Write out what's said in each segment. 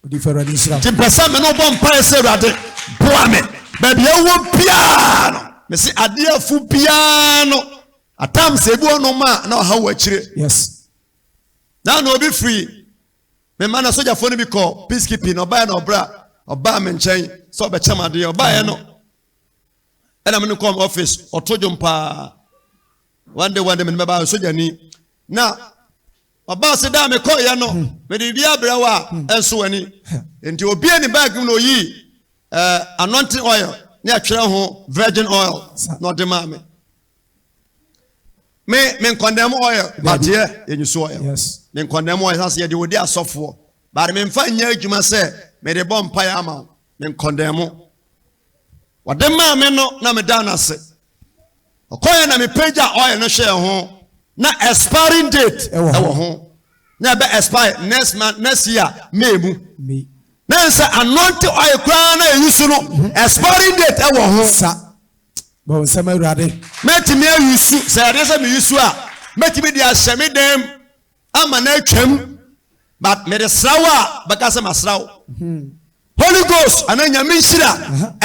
nti pɛ sɛ me ne wobɔ mpaeɛ sɛ awurade boa me baabi ɛwɔ biara no mese adeɛfo biara no atam sɛ ebi ɔnom a na ɔha wɔ akyire na na obi firi me ma na sogyafoɔ no bi kɔ peacekeeping na ɔbaeɛ na ɔbra ɔbaa me nkyɛn sɛ ɔbɛkyɛm adeɛ ɔbaeɛ no ɛna me no kɔm office ɔto dwom paa one day one day me no bɛbaa sogyani na Ɔbaa se da a mekɔeɛ no, mede biribiara brɛ wo a ɛnso w'ani. Enti ɔbuee ne bag mu na ɔyii eh, anointing oil ne ɛtwerɛ ho virgin oil na ɔde maa me. Me, me nkɔndɛm oil, bateɛ yɛ nyusu oil. Me nkɔndɛm oil, sase yɛde wɔdi asɔfoɔ. Baade me mfa nyɛ adwuma sɛ mede bɔ mpaeɛ ama wo. Me nkɔndɛm mo. Wɔde maa me no na meda no ase. Ɔkɔeɛ na mepagyaa oil no hwɛɛ ho, na expiring date wɔ ho, na ɛbɛ expire next month, next year May mu. Na ɛn sɛ anointing oil koraa na ɛyi su no, mhm. expiring date wɔ ho. Sa, bɔ nsɛm awurade. Mɛtumi ayi su, sɛ ɛdeɛ sɛ meyi su a, mɛtumi de ahyɛ me dɛm. ama no atwam but mede sra wo a bɛka sɛ masra wo hmm. holy ghost ana nyame nhyira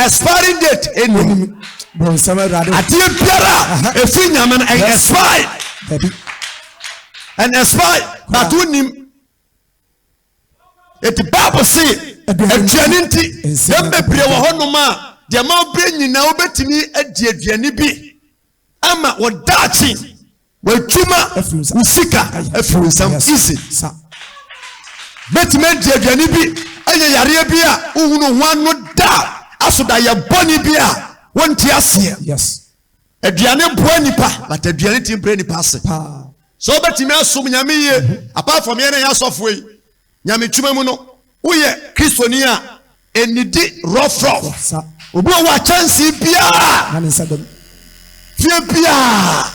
expiring date ɛnim adeɛ biara ɛfiri nyame no ɛyɛ expire ɛn expire but wonim ɛti bible se aduane nti yɛm bebree wɔ hɔnom a deɛ ma wobrɛ nyinaa wobɛtumi adi aduane bi Ama wo daakye, w'adwuma, wo sika afiri wo nsam. Easy. Bɛtumi adi aduane bi, ɛyɛ yareɛ bi a wohunu ho ano da, asodayɛ bɔne bi a wonte aseɛ. Yes. Aduane boa nipa, but aduane tumi brɛ nipa ase. Paa. So wobɛtumi asom Nyame yie, mhm. apart from yɛn na yɛ asɔfoɔ yi. nyametruma mu no, woyɛ Kristoni a nnidi rɔfrɔf. Obi wɔ hɔ a kyɛnsee biara fie biara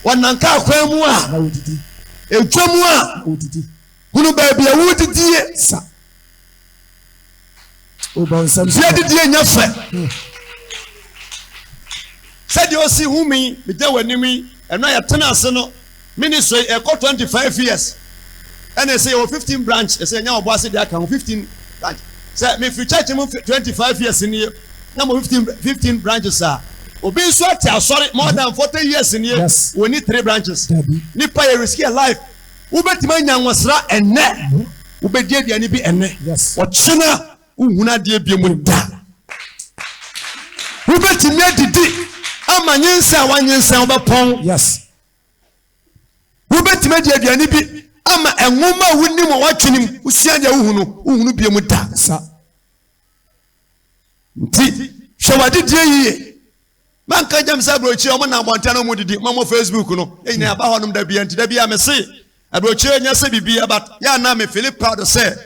wɔnam kaa kwan mu a edwa mu a hunu baabi a wodidie Fie adidie nyɛ fɛ sɛdeɛ ɔsi hu me megya w'anim yi ɛno a yɛtena ase no ministry ɛkɔ 25 years ɛna ɛsɛ yɛwɔ 15 branch ɛsɛ yɛnya wɔbɔ ase de aka ho 15 branch sɛ mefiri church mu 25 years nie na mo 15 15 branches a obi nso ate asɔre more than 40 years nie wɔni 3 branches nipa yɛ riski yɛ life Wobɛtumi anya nwosra ɛnnɛ, wobɛdi aduane bi ɛnnɛ, ɔkyena wohunu adeɛ biom da. Wobɛtumi adidi ama nyensa a wanyensa wobɛpɔn. Wobɛtumi adi aduane bi ama ɛnwoma a wonim a woatwenem wosua deɛ wohunu wohunu biom da. Nti hwɛ w'adedie yie Ma nka gyam sɛ aburokyire a wɔnam abɔnten na wɔdidi ma wɔ Facebook no nyinaa ɛba hɔnom da bia nti da bia mese aburokyire nyɛ sɛ biribi ɛba yɛ anaa me fili proud sɛ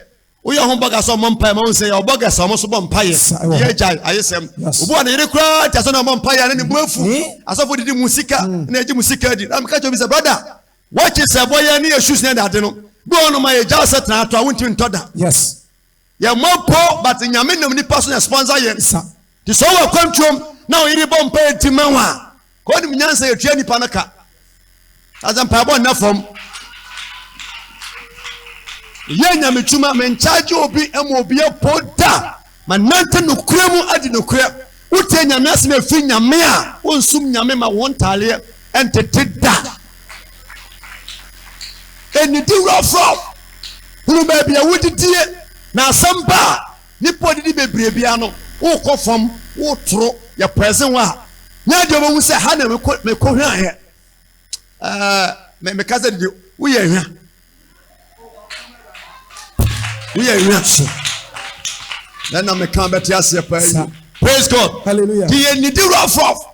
woyɛ ho bɔga sɛ ɔmmɔ mpaeɛ ma wo sɛ yɛ ɔbɔga sɛ ɔmo so bɔ mpaeɛ yɛ agyae ayesɛm obi wɔ ne yere koraa nti asɛ na ɔmmɔ mpaeɛ ne ne bo afu asɔfo didi mu sika na ɛgye mu sika di na meka kyɛ obi sɛ brada wɔkye sɛ bɔyɛ ne yɛ shoes ne ɛde ade no bi wɔ no ma yɛgya sɛ tena ato a wontumi ntɔ da yes Yɛn mɔ po but Nyame nam nipa so na sponsor yɛn nsa. Te sɛ ɔwɔ akwantuom na ɔyere bɔ mpaeɛ ti ma wo a, ka ɔnim nyansa yɛtua nipa no ka. Asɛ mpaebɔ nna fam. Yɛ Nyame twuma, menkyagye obi ɛma obi apo da. Manante nokorɛ mu adi nokorɛ. Wotie Nyame asem efi Nyame a wonsum Nyame ma won ntaaleɛ ntete da. Enidi wura frɔm, hunu baabi a wodidie, na asem ba a nipa odidi bebree biara no wokɔ fam, wotoro, yɛ pɛɛsen hɔ a nyɛ deɛ obehu sɛ ha na mekɔ hwɛaeɛ. Ɛɛ, me, meka sɛ didi, woyɛ hwa? woyɛ nwiase na na meka bɛte aseɛ paa yi praise god hallelujah ti yɛ nidi wurafo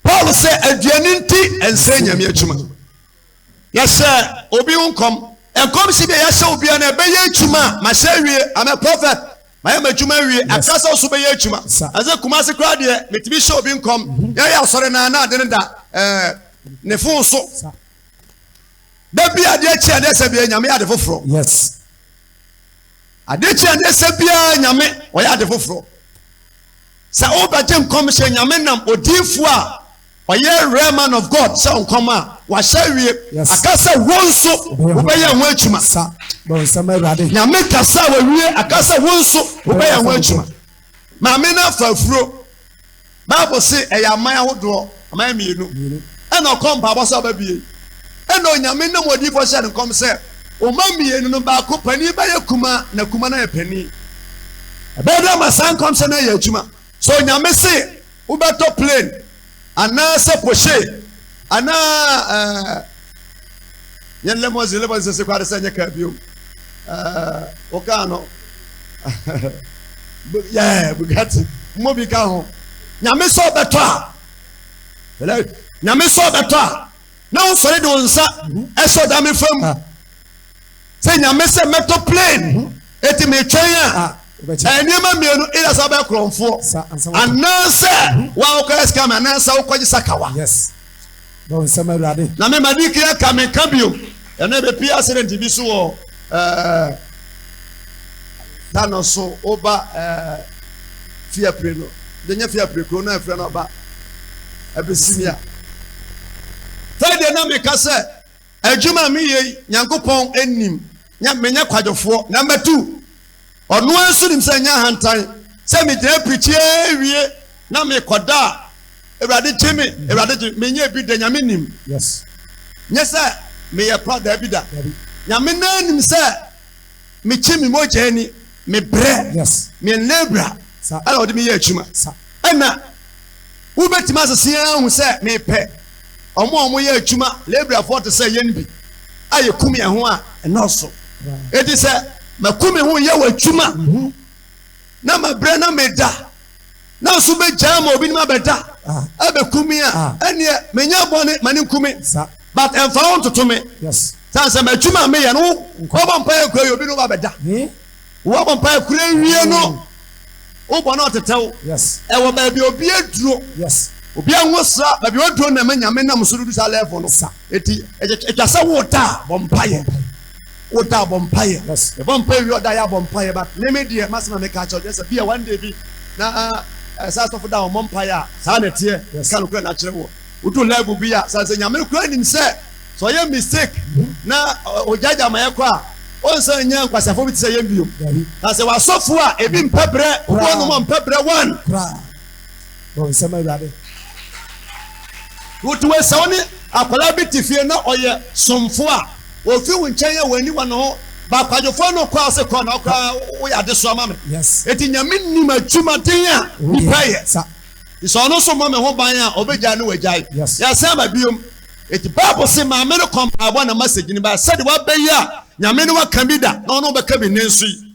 paul sɛ aduane nti ɛnsɛ nyame adwuma yɛhyɛ obi nkɔm nkɔm si deɛ yɛhyɛ obiara no ɛbɛyɛ adwuma a mahyɛ awie amɛ prophet Mayɛ m'adwuma awie, ɛfra sɛ ɔso bɛyɛ adwuma. Ɛsɛ Kumasi koraa deɛ, metumi hyɛ obi nkɔm. Mhm. Yɛyɛ asɔre naa na ade no da ɛɛ eh, ne fon so. Da bi adeɛ kyi adeɛ sɛ bia nyame yɛ ade foforɔ. Yes. Adeɛ kyi adeɛ sɛ bia nyame ɔyɛ ade foforɔ. Sɛ wobɛgye nkɔmhyɛ Nyame nam odiyifoɔ a ɔyɛ rare man of God sɛ nkɔm a wahyɛ awie aka sɛ wonso wobɛyɛ ho adwuma. Nyame kasa a wawie aka sɛ wonso wobɛyɛ ho adwuma. Maame no afa afuro. Bible se ɛyɛ aman ahodoɔ. Ɔman mmienu. Ɛna ɔkɔɔ mpaabɔ sɛ ɔbɛbue. Ɛna Onyame nam odiyifoɔ hyɛɛ no nkɔm sɛ, Ɔman mmienu no, baako panin bɛyɛ kumaa, na kumaa no ayɛ panin. Ɛbɛyɛ dɛn ma saa nkɔmhyɛ no ayɛ adwuma? Sɛ Onyame se wobɛtɔ plane, anaasɛ pohyee, anaa ɛɛ. nyɛ lɛmɔsin lɛmɔsin sese koraa de sɛ nyɛ kaa bio ɛɛ o kaa no yɛɛ bugatti mmɔ bi ka ho nyame sɛ ɔbɛtɔ a nyame sɛ ɔbɛtɔ a na wosɔre de wo nsa ɛhyɛ ɔdame fam Sɛ Nyame sɛ mɛtɔ plane mhm. eti metwɛn a ɛyɛ nneɛma mmienu either sɛ wobɛyɛ korɔmfoɔ anaasɛ mhm. woakɔyɛ scam anaasɛ wokɔgye sakawa na mema di kea ka menka bio ɛnɛ bɛpie accident bi so wɔ eh, tano so woba eh, fiapire no denyɛ fiapire kuro no ɛfrɛ no ɔba abɛsimia friday na meka sɛ Adwuma a meyɛ yi, Nyankopɔn nim, nyɛ menyɛ kwadwofoɔ na matu. Ɔno ara nso nim sɛ ɛnyɛ ahantan sɛ megyina pirikyi ara wie na mekɔda a, Awurade gye me, Awurade gye me. Menyɛɛ bi da, Nyame nim. Nyɛ sɛ meyɛ pa, daabida. Nyame no ara nim sɛ. Me kyi me mogya ni me brɛ me nlabra ɛna ɔde me yɛ adwuma ɛna wo bɛ tumi asese yɛn ahu sɛ me pɛ ɔmo a ɔmo yɛ adwuma labra foɔ te sɛ yɛn bi a yɛ kum yɛn ho a ɛnɔɔso eti sɛ mɛ kum me ho yɛ wɔ adwuma na mɛ brɛ na mɛ da. na nso bɛgyaa ma obinom abɛda abɛku me a ɛneɛ menyɛ bɔne ma ne nku me but ɛmfa wo ntoto me sane sɛ m'adwuma a meyɛ no wobɔ mpaeɛ kura yɛ obinom abɛda wobɔ mpaeɛ kura wie no wobɔ no ɔtetɛ wo ɛwɔ baabi obi aduro obi anwo sra baabi waduro na ma nyame nam so no du saa level no ɛti ɛtwa sɛ wo da a bɔ mpaeɛ Wotaa bɔ mpaeɛ? Yes. Yɛbɔ mpaeɛ wie a ɔda yɛ abɔ mpaeɛ but me me deɛ m'asɛm a meka akyerɛ wo kyerɛ sɛ bi a one day bi na eh, sɛ asɔfo da a wɔmmɔ mpaeɛ a saa na ɛteɛ. Yes. Ka nokorɛ no akyerɛ wo. Wodu level bi a sɛ sɛ Nyame koraa nim sɛ sɛ ɔyɛ mistake na ɔ- ɔgyaagyaa ma yɛkɔ a ɔnsan nyɛ nkwaseafoɔ bi te sɛ yɛn bio. Dabi. Na sɛ wɔ asɔfo a ebi mpɛ brɛ, obi Koraa. ɔnom a ɔmpɛ brɛ one. Koraa. Bɔ nsɛm Awurade. Wotumi sɛ wo ne akwadaa bi te fie na ɔyɛ somfo a, ofi wo nkyɛn a wanni wɔ ne ho, ba kwadwofoɔ no kɔ ase kɔ na wo koraa woyɛ adesoa ma me. Enti Nyame nim adwumaden a nipa yɛ. Nti sɛ ɔno nso mmɔ me ho ban a, ɔbɛgyae ne wagyae. Yɛasan aba biom. Enti Bible se maame no kɔ mpaebɔ na message no ba. Sɛdeɛ waba yi a, Nyame ne wo aka bi da na ɔne wo bɛka bi nnɛ nso yi.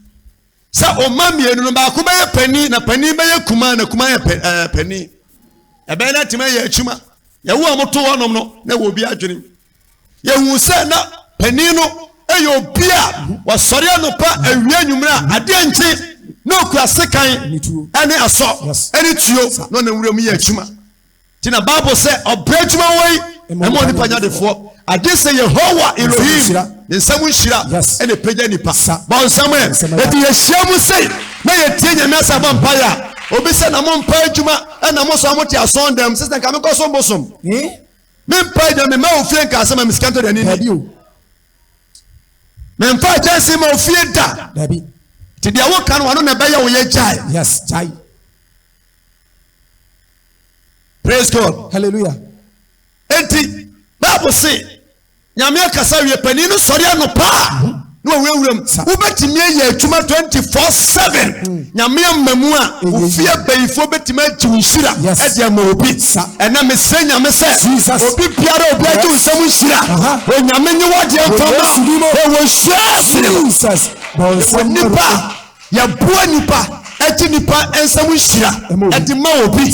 Sɛ o mma mmienu no baako bɛyɛ panin na panin bɛyɛ kumaa na kumaa yɛ eh, panin. Ɛbɛyɛ na tema yɛ akyima. Yɛwo a moto hɔnom no na wɔ obi adwenem. Yɛhu sɛ na panin no yɛ obi a wasɔre anɔpa awia anwummerɛ a adeɛ nkye na ɔkura sekan ne asɔ ne tuo na ɔnam wuram yɛ akyima. Nti na Bible sɛ ɔbrɛ adwuma wɔ yi ɛma onipa nya defoɔ. Agye sɛ Yehowa Elohim ne nsa mu nhyira ɛna ɛpagya nipa. Bɔ nsɛm ɛ. Enti yɛhyia mu sei na yɛtie Nyame asɛ bɔ mpaeɛ a, obi sɛ na mo mpa adwuma ɛna mo sɔre mote asɔn dɛm sɛ sɛ nka menkɔ so mbosom. Me mpa adwuma me ma ofie nka asɛ ma me sika ntɔ dani ni. Me mfa akyɛnse ma ofie da. Ti deɛ woka no ano na ɛbɛyɛ wo yɛ gyae. Yes, gyae. praise god hallelujah enti bible se nyame akasa wie panin no sɔre anɔpa a na ɔwurawura mu wobɛtumi ayɛ adwuma 24/7 nyame ama mu a wofie abayifoɔ bɛtumi agye wo nhyira ɛde ama obi ɛna mesrɛ nyame sɛ obi biara obi agye wo nsɛm nhyira onyame nye wadeɛ mfama ɛwɔ nhyira sene mu ɛwɔ nnipa Yɛboa nnipa, ɛgye nnipa nsam nhyira, ɛde ma obi.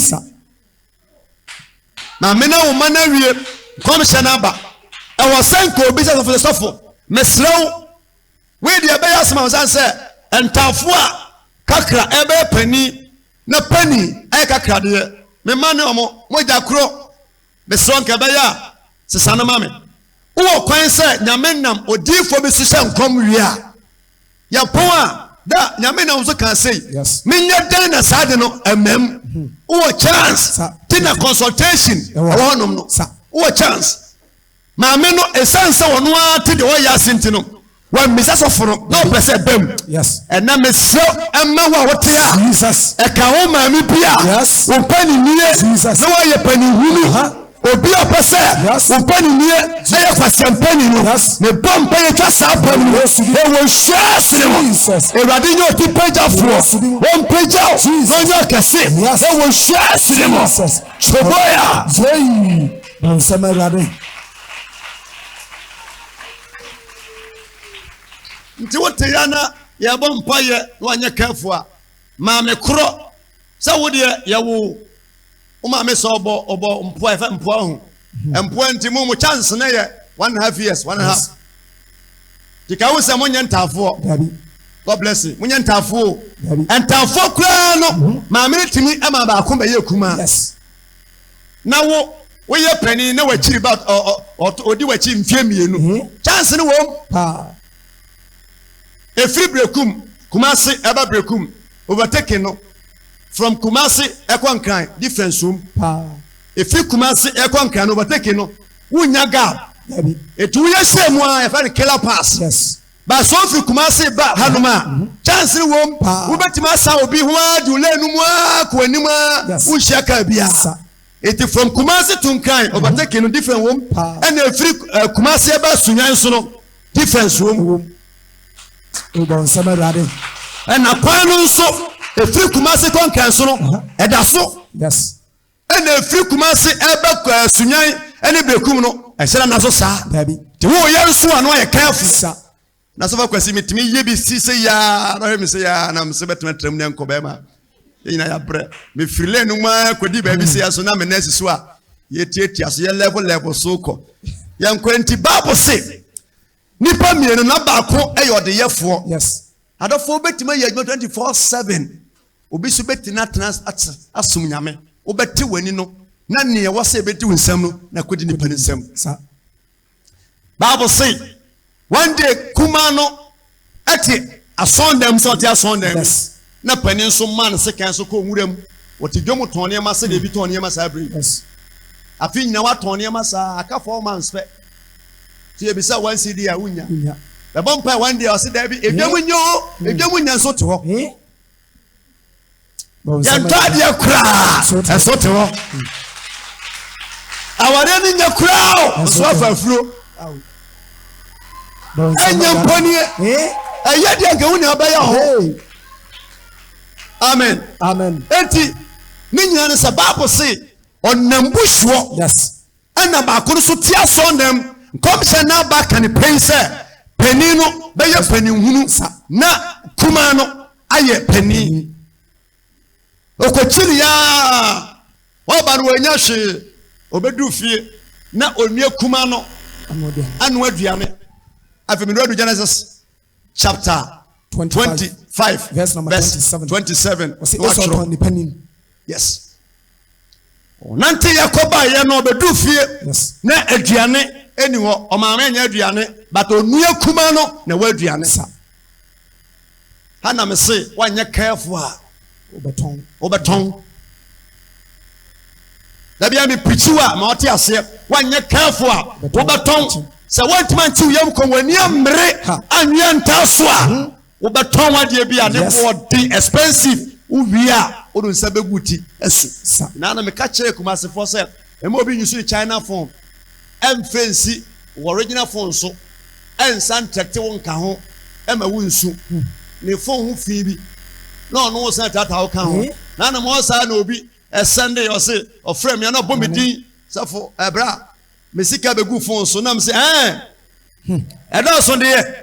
Maame na wo ma no awie nkɔmhyɛ no aba. Ɛwɔ sɛ nka obi sɛ sɔfo sɔfo, mesrɛ wo, wei deɛ ɛbɛyɛ asɛm a sɛ ntaafo a kakra ɛbɛyɛ panin na panin ɛyɛ kakra deɛ, mema ne ɔmo mogya korɔ. Mesrɛ nka ɛbɛyɛ a sesa no ma me. Wowɔ kwan sɛ Nyame nam odiyifoɔ bi so hyɛ nkɔm wie a, yɛ pɔn a, da Nyame nam so kaa sei, menyɛ dɛn na saa ade no amam. Hmm. Wowɔ chance ti na consultation ɛwɔ hɔnom no. Wowɔ chance. Maame no, ɛsiane sɛ ɔno ara te deɛ ɔyɛ ase nti no, Wammisa sɔfo no na ɔpɛ sɛ ɛbam. Ɛnna mesrɛ ɛma wo a wote a ɛka wo maame bi a wo pɛ ne nie na woayɛ panihunu obi a ɔpɛ sɛ wo pɛ ne nie ɛyɛ kwasɛmpani no mebɔ mpa yɛtwa saa pa no mu ɛwɔ nhyia sene mu awurade nyɛ ɔti pagyafoɔ ɔmpagya o na ɔnyɛ ɔkɛse ɛwɔ nhyia sene mu kyoboya bansɛm awurade nti wote ya na yɛbɔ mpaeɛ na wanyɛ kɛfo a maame korɔ sɛ wo deɛ yɛwo wo maame sɛ ɔbɔ ɔbɔ mpoa ɛfɛ mpoa ho hmm. mpoa nti mo mo chance no yɛ one and a half years one and a half tika wo sɛ mo nyɛ ntaafoɔ god bless you mo nyɛ ntaafoɔ ntaafoɔ koraa no hmm. maame no tumi ma baako bɛyɛ kumaa. Yes. na wo woyɛ panin na wakyiri ba ɔdi wakyi mfie mmienu mhm. chance no wɔm ɛfiri brekum kumase ɛba brekum overtaking no from kumase ɛkɔ nkran difference wom ɛfiri kumase ɛkɔ nkran no overtaking no wonya gap ɛti woyɛ hyɛ mu a ɛfɛ no killer pass yes. Ba sɔɔ firi Kumasi ba hanom a, kyansere wom wobɛtumi asan obi ho ara de wo lane no mu ara kɔ anim a wonhyia kaa biara. Enti from Kumasi to Nkran, overtaking no different wom ɛna ɛfiri Kumasi ɛba Sunyani nso no difference wom. Wobɔ nsɛm Awurade. Ɛna kwan no nso ɛfiri Kumasi kɔ Nkran nso no ɛda so. Yes. ɛna ɛfiri Kumase ɛba eh, Sunyan ɛne Bekum no ɛhyɛ nana so saa daabi te wo yɛ nso ano ayɛ kɛɛfo sa na sɛ fakwasi metumi yɛ bi si sɛ yaa na hwɛ me sɛ yaa na mesɛ bɛtena tram ne nkɔ bɛɛma yɛ nyina yɛabrɛ mefiri lɛ no mu a kɔdi baabi sɛ yɛ so na me nɛsi so a yɛtiatia so yɛ level level so kɔ yɛnkɔ nti bible se Nnipa mmienu na baako yɛ ɔdeyɛfoɔ. Yes. Adɔfoɔ wobɛtumi ayɛ adwuma 24/7. Obi nso bɛtumi no atena ase asom Nyame. Wobɛte w'ani no na nea ɛwɔ sɛ ɛbɛdi wo nsam no na ɛkɔdi nipa no nsam. Sa. Bible se, one day kumaa no te asɔɔdan mu sɛ ɔte asɔɔdan mu. Yes. na panin nso maa ne sekan so kɔɔ nwura mu. Wɔte dwam tɔn nneɛma sɛdeɛ ebi tɔn nneɛma saa berɛ yi. Afe nyinaa wɔatɔn nneɛma saa, aka four months pɛ. Nti yɛbisa wo one cedi a, wonnya. Bɛbɔ mpae one day a, ɔse daabi, edwam nnyɛ o, edwam nnyɛ nso te hɔ. Yɛntɔ adeɛ koraa, nso te hɔ. Awareɛ no nnyɛ koraa o, nso afa afuro. ɛnyɛ mpɔnie ɛyɛ deɛ nka wo nea bɛyɛ hɔ amen amen enti ne nyina no sɛ bible se ɔnam bu soɔ ɛna baako no so tia sɔ nam nkɔmhyɛ no aba ka ne pɛn sɛ panin no bɛyɛ panin hunu na kumaa no ayɛ panin Ɔkɔkyini aa ɔba no ɔnya hwee ɔbɛdu fie na ɔnua kuma no anoa aduane afei mene ɔdu Genesis chapter 25 verse 27 ɔsɛ ɔsɔtɔn nipa nim yes Ɔnanteeɛ kɔ baeɛ na ɔbɛduru fie na aduane ɛni hɔ. Ɔmaame nyɛ aduane but ɔnua kuma no na ɛwɔ aduane sa. Ha na mese wanyɛ careful a wobɛtɔn. Dabi a mepirikyi wa ma ɔte aseɛ wanyɛ careful a wobɛtɔn. Sɛ wɔntumi anti wo yam kɔn w'ani ammere anwea ntaa so a. Wobɛtɔn adeɛ bi a ne Yes. boɔ den expensive wowie a wode wo nsa bɛgu wo ti asu Sa. na na meka kyerɛɛ Kumasefoɔ sɛ mma obi nyusu ne China phone ɛmfɛ nsi wo original phone so ɛnsa ntrɛkte wo nka ho ɛma wo nsu ne phone ho fii bi na ɔno wo san taataa wo ka ho Eh. na na mɔ saa na obi ɛsɛnde ɔse ɔfrɛ me a na ɔbɔ me din sɛfo ɛbrɛ a me sika bɛgu phone so na mese ɛɛ ɛdɔɔso deɛ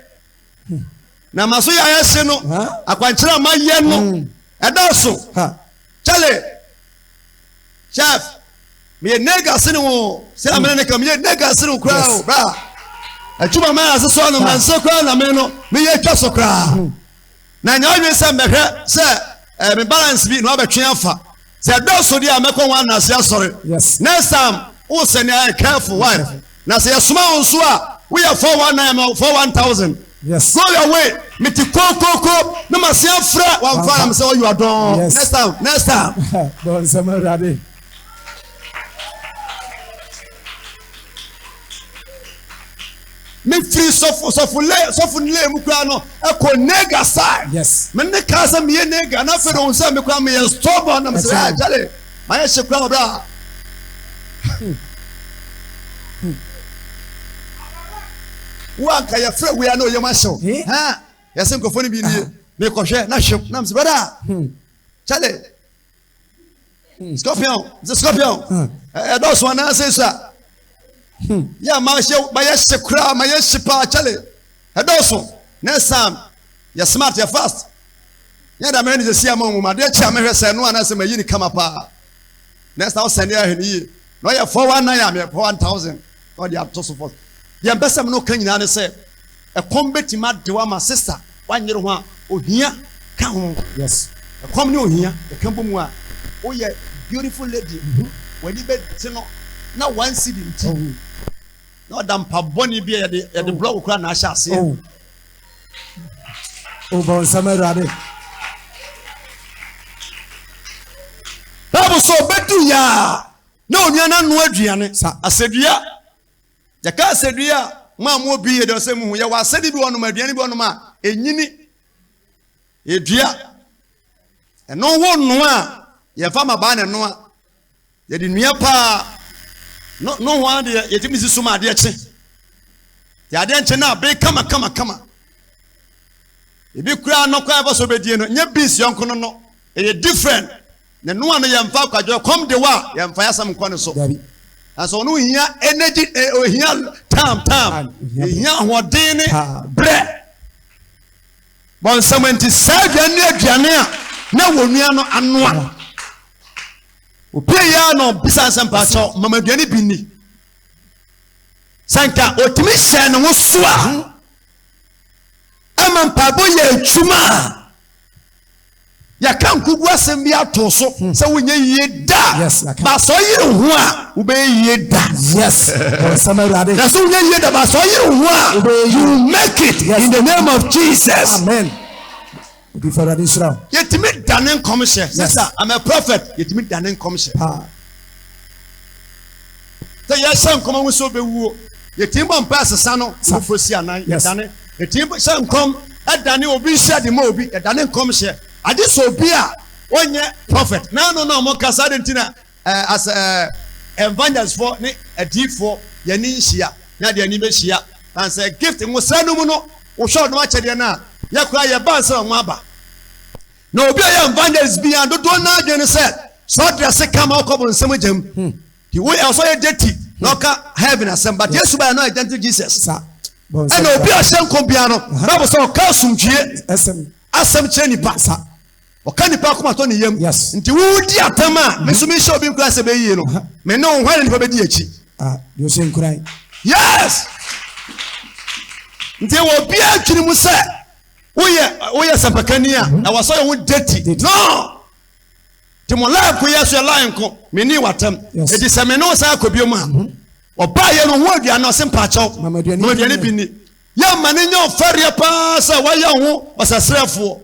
na ma so yɛayɛ se no akwankyerɛ a mayɛ no hmm. ɛdɔɔso kyɛle chef meyɛ nega se ne wo sɛ hmm. amene ne ka meyɛ nega se ne wo koraa o bra atwuma ma ase so no manse koraa na me no meyɛ twa so koraa hmm. na nya adwene sɛ mɛhwɛ sɛ eh, me balance bi na wabɛtwe afa sɛ ɛdɔɔso deɛ a mɛkɔ wɔn anase asɔre yes. next time wo sɛ ne ayɛ careful why na sɛ yɛsoma wo nso a woyɛ 419 ma 41000 yes. go your way mete kokoko na mase afrɛ wamfa nam sɛ ɔyɛ adɔn yes. next time next time bɔnsɛm awurade Mefiri sɔfo sɔfo lay sɔfo ne lay mu koraa no ɛkɔ nega side. Yes. Me ne kaa sɛ meyɛ nega na afei de ohun sɛ me koraa meyɛ stubborn na mesɛ ɛɛ kyale mayɛ hye koraa ɔbra. Wo anka yɛfrɛ wei a na ɔyam ahyew. Hɛn yɛsɛ nkurɔfoɔ no bi nie mekɔhwɛ na hwem na mesɛ brada kyale. hmm, scorpion sɛ scorpion hmm. ɛdɔɔso anaa sɛ sua hmm. yɛ a mahyɛ mayɛ hye koraa mayɛ hye paa kyɛle ɛdɔɔso na ɛsan yɛ smart yɛ fast yɛ da mɛrɛ ne sɛsi ama mu adeɛ kyɛ a mɛhwɛ sɛ ɛno anaa sɛ mayi ne kama paa na ɛsan ɔsɛn ne ahwɛ ne yie na ɔyɛ four one nine a mɛ four one thousand. Ɔde ato so fam. Deɛ mpɛ sɛ me ne wo ka nyinaa ne sɛ, ɛkɔm bɛtumi ade wo ama sista wanyere ho a, ohia ka ho. Yes, ɛkɔm ne ohia ɛka bɔ mu a, woyɛ beautiful lady, w'ani bɛte no na one cedi nti na ɔda mpa bɔne bi a yɛde yɛde blɔ wo koraa na ahyɛ aseɛ. Oh. Oh, bɔ nsɛm awurade. Bible sɛ ɔbɛdu yɛ a Na onua no anoa aduane. Sa asɛdua. Yɛka asɛdua a, mo a moɔ bi yɛ dɛ sɛ muhu, yɛwɔ asɛde bi wɔnom, aduane bi wɔnom a, ɛnyini. Yɛdua. Ɛno ho nnoa a, yɛfa mabaa na ɛnoa. Yɛde nua paa. No, no ho adeɛ, yɛtumi si so ma adeɛ kye. Yɛ adeɛ nkye na abe kama kama kama. Ebi koraa nɔkɔ a ɛfa so bɛdie no, nyɛ beans yɔnko no nɔ. Ɛyɛ different. Ne noa no yɛ mfa kwadwo ɛkɔm de wa yɛmfa yasɛm nkɔ ne so nanso ɔno ohia energy eh, ohia tam tam ohia ahoɔden ne brɛ bɔnsɛm nti saa aduane ne aduane a na wɔn nua no anoa opie yɛ na ɔbisa nsɛm paakyɛw mama aduane bi ni sɛ nka otumi hyɛ ne ho so a ɛma mpaebɔ yɛ adwuma a Yɛaka nkogu asɛm bi ato so sɛ wonyɛ yie da. Yes, yɛaka. Ba sɛ ɔyere wo ho a, wobɛyɛ yie da. Yes, bɔnsɛm awurade. Na sɛ wonyɛ yie da, ba sɛ ɔyere wo ho a, Wobɛyɛ yie. you will make it Yes. in the name of Jesus. Amen. Obi fa awurade nhyira wo. Yɛtumi dane nkɔmhyɛ. Yes. Sista, I'm a prophet. Yɛtumi dane nkɔmhyɛ. Paa. Sɛ yɛhyɛ nkɔm ho sɛ obewuo, yɛtumi bɔ mpaeɛ sesa no abufuo si anan, yɛdane. Yɛtumi hyɛ nkɔm dane obi nhyɛ de ma obi, yɛdane nkɔmhyɛ. Agye sɛ obi a ɔnyɛ prɔfɛt na ɛno na wɔka saa de nti na as evangelistfoɔ ne adiyifoɔ yɛn ani nhyia na yɛde yɛn ani bɛhyia. Na sɛ gift nwosra no mu no wohwɛ wɔn akyɛdeɛ no a, yɛ koraa yɛbaa sɛ wɔn aba. Na obi a ɔyɛ evangelist biara dodoɔ no ara adwene ne sɛ sɛ ɔdrɛse kama ɔkɔ bonsam gya mu. Nti wo ɛwɔ sɛ ɔyɛ gyati na ɔka heaven asɛm but Yesu baeɛ no ɔyɛ gentle Jesus ɛna obi a ɔhyɛ nkɔm biara no Bible sɛ ɔka asomdwie asɛm kyerɛ nipa ɔka nipa akoma tɔ ne yam nti wo di atam a me nso menhyɛ obi nkura sɛ bɛyie no me ne wo hwan na nipa bɛdi akyi ah, yes nti wɔ biara twene mu sɛ woyɛ woyɛ sɛmpakani a ɛwɔ sɛ ɔyɛ wo dati no Nti mo line ko yɛ so yɛ line ko me ni watam eti sɛ me ne wo san kɔ bio mu a ɔbaa yɛ no ho aduane ɔse mpaakyɛw ma aduane bi ni yɛ ma ne nyɛ ɔfɛreɛ paa sɛ wayɛ ho ɔsɛsrɛfoɔ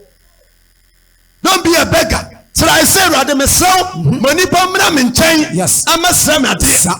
don't be a beggar srɛ sɛ awurade mesrɛ wo ma nipa mmra me nkyɛn ɛmɛsrɛ me adeɛ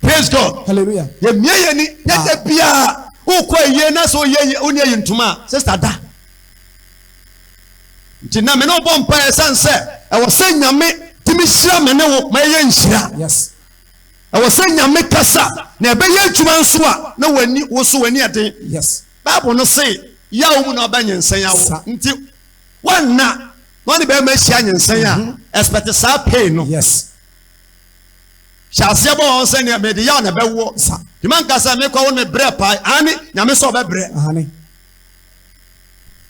praise god hallelujah yɛmia yɛn ni na da biara wokɔ ayie na sɛ woyɛ ayie wone ayi ntoma a sista da nti na me ne wobɔ mpaeɛ sane sɛ ɛwɔ sɛ nyame tumi hyira me ne wo ma ɛyɛ nhyira yes ɛwɔ sɛ nyame kasa na ɛbɛyɛ adwuma nso a na w'ani wo so w'ani ɛden yes bible no se yawo mu na ɔbɛ nyensɛn awo Sa- nti wɔnna na ɔne bɛrima ahyia nyensɛn a ɛspɛte saa pei no yes hyɛ aseɛ bɔ wɔn sɛdeɛ mede yɛ a na ɛbɛwoɔ sa nti manka sɛ mekɔ wo ne brɛ pae aane nyame sɛ ɔbɛbrɛ aane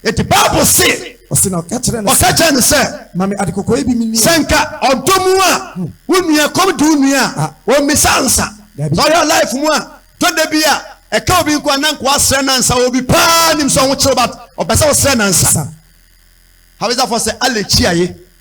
ɛti bible se ɔse na ɔka kyerɛ no ɔka kyerɛ no sɛ ma me adekɔkɔɔ yi bi menni sɛ nka ɔdɔ mu a hmm. wo nua kɔm de wo nua a ah. ɔmmisa nsa sɔhwɛ life mu a tɔda bi a ɛka obi nko ana nkoa srɛ nansa obi paa nim sɛ ɔho kyerɛ ɔba ɔpɛ sɛ ɔsrɛ nansa habesafoɔ sɛ alɛkyiaye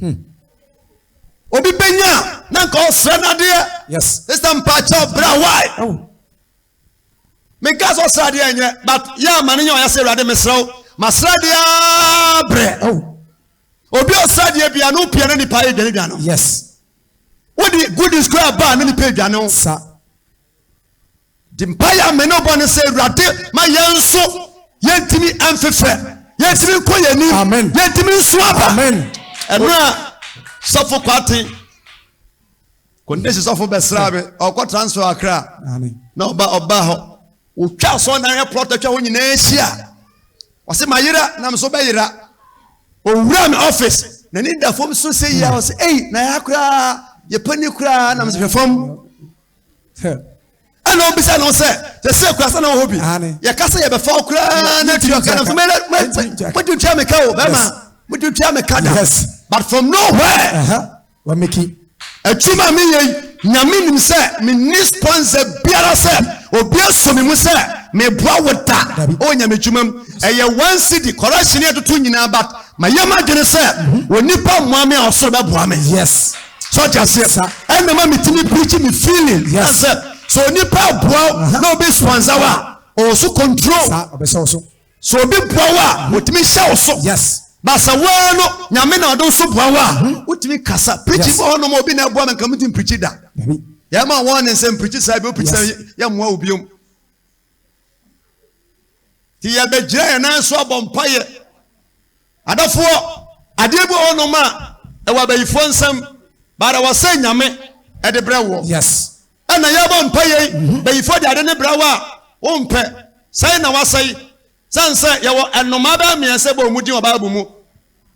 Hmm. obi bɛnya a na nka ɔsrɛ no adeɛ ɛsɛ mpakyɛ ɔbrɛ wae menka sɛ ɔsrɛ adeɛ nyɛ but yɛ ama no nyɛ ɔyɛ sɛ awurade mesrɛ wo masrɛ adeɛ brɛ obi ɔsrɛ adeɛ bia no pia no nipa yɛ dwane dwane yes wode good is kora baa no nipa adwane wo sa Di mpaeɛ a me ne wobɔ ne sɛ, Awurade ma yɛn nso yɛntumi mfefɛ, yɛntumi nkɔ yɛn anim, yɛntumi nso aba. Ɛno a sɔfo kwate kɔndesi sɔfo bɛsra me ɔkɔ transfer akra na ɔba ɔba hɔ wotwa asɔ na yɛ plɔt atwa hɔ nyinaa ahyia ɔsɛ ma yera na me so bɛyera owura me office na ne da fam so sɛ yia ɔsɛ ei na yɛ akora yɛpɛ ne koraa na me sɛ hwɛ fam ɛna ɔbisa no sɛ sɛsɛ kura sɛ na ɔwɔ hɔ bi yɛka sɛ yɛbɛfa wo koraa na tua ka no so mode tua me ka o bɛma mode tua me ka da but from nowhere uh-huh. atwuma me yei nyame nim sɛ menni sponsor biara sɛ obi aso me mu sɛ meboa wo da ɔwɔ nyame adwuma mu ɛyɛ one city correction ɛtoto nyinaa but mayɛ m'adwene sɛ onipa mmoa me a ɔsoro bɛboa me yes so ɔte aseɛ ɛna ma metumi preach me feeling sɛ sɛ onipa aboa uh-huh. na obi sponsor wa ɔwɔ so control so obi boa wa uh-huh. otumi hyɛ wo so basa waa no nyame na ɔde so boa wa uh-huh. wotumi kasa preach bɔ hɔ nom obi na ɛboa me nka metumi preach da yɛma wɔn ne nsɛm preach saa bi o preach saa yɛmmoa wo biom nti yɛbɛgyina yɛn nan so abɔ mpaeɛ Adɔfoɔ, adeɛ bi wɔ hɔ nom a, ɛwɔ abayifoɔ nsam, but ɛwɔ sɛ Nyame de brɛ woɔ. Yes. Ɛna yɛbɔ mpaeɛ yi, mhm. bayifoɔ de ade ne brɛ wo a, wo mpɛ, sɛe na wasɛe. Sane sɛ yɛwɔ ɛnomaa bɛɛ mmiɛnsa bɔ ɔmu din wɔ Bible mu.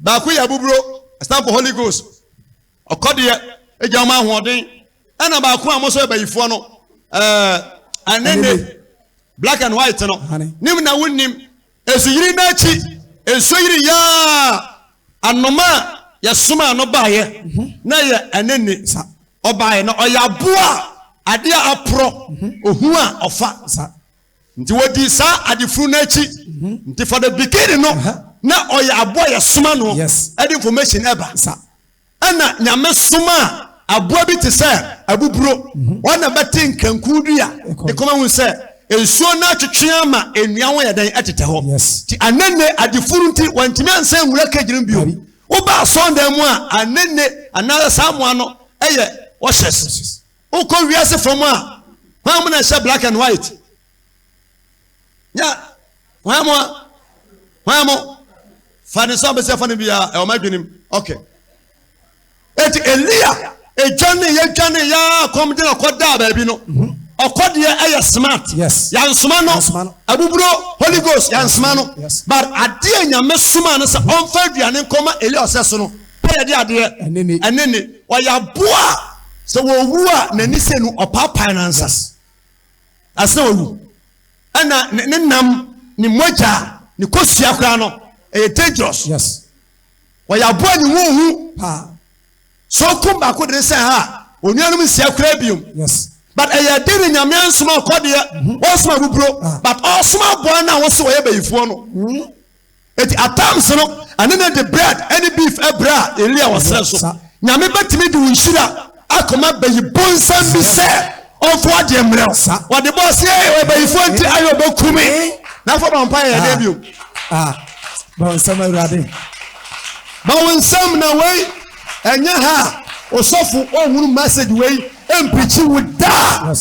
Baako yɛ abuburo, ɛstand for Holy Ghost. Ɔkɔdeɛ, egya ɔma ahoɔden. Ɛna baako a mo nso yɛ bayifoɔ no, ɛɛ, eh, anene, black and white no. Nim na wonim. Nsuyiri no akyi, nsuo yiri yaa anoma a yɛsomaa no baeɛ na ɛyɛ ɛne ne nsa. Ɔbaeɛ na ɔyɛ aboa a adeɛ a aporɔ, ohun a ɔfa nsa. Nti wɔdii saa adefunu no akyi. Nti for the beginning no, na ɔyɛ aboa a yɛsoma no de information ba. Ɛnna Nyame somaa aboa bi te sɛ abuburo, ɔno na ɛbɛte nkanku dua de kɔma hu sɛ nsuo no atwetwe ama nnua ho ayɛ dɛn atetɛ hɔ. Nti Anene adefuru nti wantumi ansan nwura cage no bio. Woba asɔndan mu a, Anene anaasɛ saa mmoa no yɛ washes. Wokɔ wiase fam a, hwan mu na ɛhyɛ black and white? nya hwan mo a hwan mo fa ne nsa bɛsi afa no biara ɛwɔ ma adwenem ɔkɛ eti elia edwane yɛdwane yɛ akɔm de na ɔkɔ daa baabi no mhm. ɔkɔ deɛ ɛyɛ smart yansoma no abuburo holy ghost yansoma no but adeɛ nyame soma no sɛ mhm. ɔnfa aduane nkɔma elia ɔsɛ so no pɛ yɛ de adeɛ ɛne ne ɔyɛ aboa sɛ wɔwu a n'ani sɛ no ɔpaapae no ansa. Asɛ wawu. Ɛna ne ne nam, ne mogya, ne kosua koraa no, ɛyɛ dangerous. Yes. Wɔyɛ aboa ne ho hu. Paa. So okum baako de ne sɛ ha, onuanom nsia koraa biom. Yes. But ɛyɛ den ne nyame ansoma ɔkɔdeɛ, mm-hmm. ɔsoma buburo, ah. but ɔsoma aboa no a wɔso wɔyɛ bayifoɔ no. Mm-hmm. Enti at times no, ɛne no de bread ne beef brɛ a, Elia wɔ serɛ so. Nyame bɛtumi de wo nhyira akɔma bayi bonsam bi sɛ ɔmfa w'adeɛ mmerɛ wo. Wɔde bɔɔ se, Ei, ɔyɛ bayifoɔ nti ayɛ ɔbɛku me. Na afei ɔbɔ mpaeɛ yɛ dɛn bio? Ma wo nsam, Awurade. Ma wo nsam na wei ɛnyɛ ha a osɔfo ɔnhunu message wei ɛmpirikyi wo da.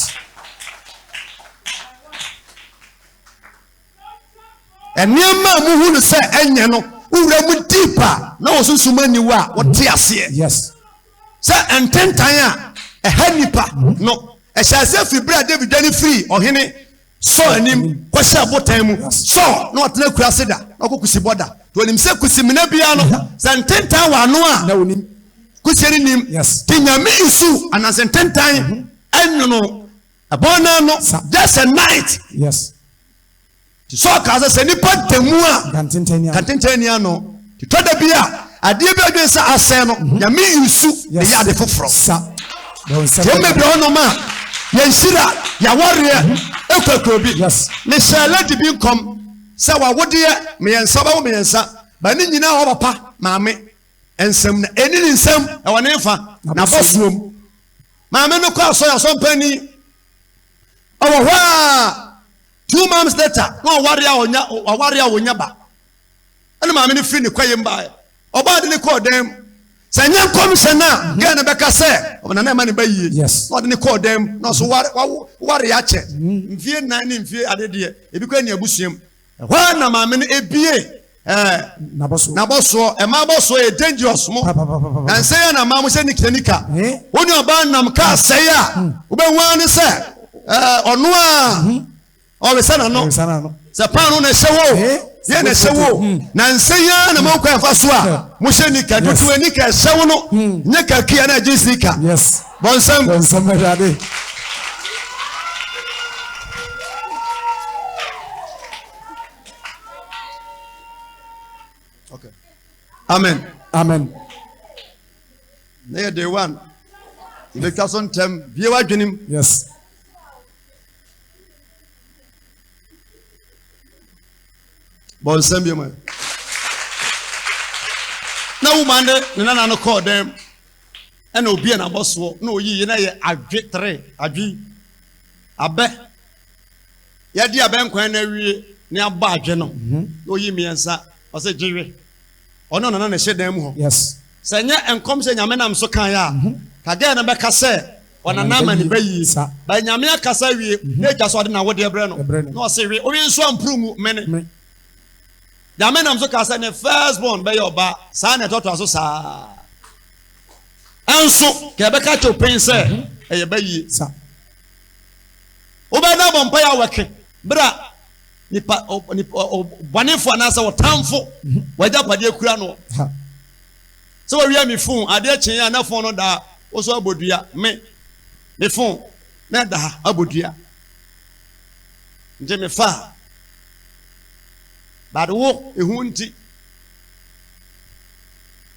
Nneɛma a muhu no sɛ ɛnyɛ no, wowura mu deep a na wo sunsum aniwa a wote aseɛ Yes. sɛ ntentan a ɛha nnipa no. Ɛhyɛ aseɛ firi berɛ a David dwane firii Ɔhene Saul anim kɔhyɛɛ abotan mu. Saul na ɔtena kuraase da, na ɔkɔ kusibɔ da. Nti ɔnim sɛ kusimina biara no, sɛ ntentan wɔ ano a, Na onim. kusie no nim. Yes. Nti Nyame nsu anaa sɛ ntentan nwono Ɛbɔn no ano just a night. Yes. Ti sɛ ɔkaa sɛ sɛ nipa da mu a kantenten ni ano. Ti tɔ da bi a adeɛ bi adwene sɛ asɛn no mhm. nyame yi su ne yɛ ade foforɔ. Sa. Wɔn bɛbi hɔnom a yɛn hyira yɛawareɛ mhm. ekɔkɔ bi. Yes. Ne hyɛ lady bi nkɔm sɛ wawodeɛ mmiɛnsa ɔbɛwo mmiɛnsa ba ne nyinaa ɔwɔ papa maame. Nsɛm na ɛni ne nsam ɛwɔ ne nfa n'abɔsoɔm. Maame no kɔ asɔre asɔmpani ɛwɔ hɔ a two months later na ɔware a ɔnya ɔware a ɔnya ba ɛna maame no firi ne kɔ yɛm baeɛ ɔbaa de ne kɔɔ dan mu sɛ nyɛ nkɔmhyɛ no a mhm. gɛɛ no bɛka sɛ ɔbɛna na ɛma ne ba yie na ɔde ne kɔɔ dan mu na ɔso ware akyɛ mhm. mfie nan ne mfie adedeɛ ebi kɔ ne abusuam Ɛhɔ ara na maame no ebiee ɛɛ N'abɔsoɔ. n'abɔsoɔ. Ɛmaa abɔsoɔ yɛ dangerous mo. Papapapapa. Na nsɛe a na mmaa mo hyɛ nikita nika. Ee. Wo nuabaa nam kaa sɛe a, wobɛhu ara ne sɛ ɛɛ ɔno a ɔresa n'ano. Ɔresa n'ano. Sɛ paanoo na ɛhyɛ wo o, Ee. deɛ na ɛhyɛ wo o. Mm. Na nsɛe yi ara na mahu kwan a ɛfa so a Hwɛ. mohyɛ nika. Yes. Dodoɔ nika a ɛhyɛ wo no, nyɛ kakri a na ɛgye nsika. Yes. Bɔnsam. Bɔnsam Awurade. Okay. Amen. Amen. Na yɛ day one. Yɛbɛtwa so ntɛm bie w'adwenem. Yes. Bɔnsam bi mu. Na wo ma ne ne nana no kɔɔ dɛm. ɛna obue n'abɔsoɔ na ɔyi yɛ na yɛ adwe tere adwe abɛ yɛde abɛ nkwan na awie ne abɔ adwe no mhm. na ɔyi mmiɛnsa ɔsɛ gyewe ɔno nana na ɛhyɛ dan mu hɔ sɛ nyɛ nkɔm sɛ nyame nam so kan yɛ a mhm. kagɛɛ no bɛka sɛ ɔnana ama ne ba yie ba nyame akasa wie mhm. na agya so ɔde na wodeɛ brɛ no na ɔse we wowe nso ampuru mu mene Nyame nam so kaa sɛ ne first born bɛyɛ ɔbaa, saa na ɛtɔtoa so saa ara nso ka yɛbɛka kyɛw pen sɛ ɛyɛ ba yie sa. Wobɛda bɔ mpaeɛ a wɔke berɛ a nipa bɔnefo anaasɛ ɔtamfo w'agyapadeɛ kura no sɛ wɔwia me fon adeɛ kyee a na fon no daa wo so abɔdua me me fon na ɛda ha abɔdua nti mefa a but wo ehu nti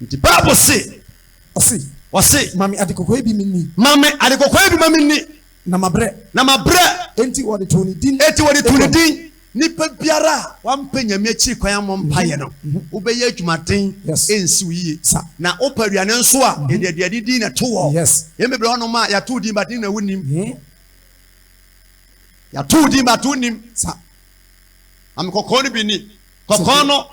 nti bible se Ɔse, ɔse ma me adekokoe bi menni, ma me adekokoe bi ma menni na mabrɛ, na mabrɛ enti wɔde too ne din enti wɔde too ne Edom. din Nipa biara a wampɛ Nyame akyiri kwan ammɔ mpaeɛ no, wobɛyɛ adwumaden, Yes. ɛnsi wo yie. Sa. Na wopɛ aduane nso a, yɛde aduane din na ɛto hɔ. Yes. Yɛn bebree wɔ hɔnom a yɛato wo din but ne nyinaa wonnim. He? Yɛato wo din but wonnim. Sa. Maame kɔkɔɔ no bi ni. Kɔkɔɔ no,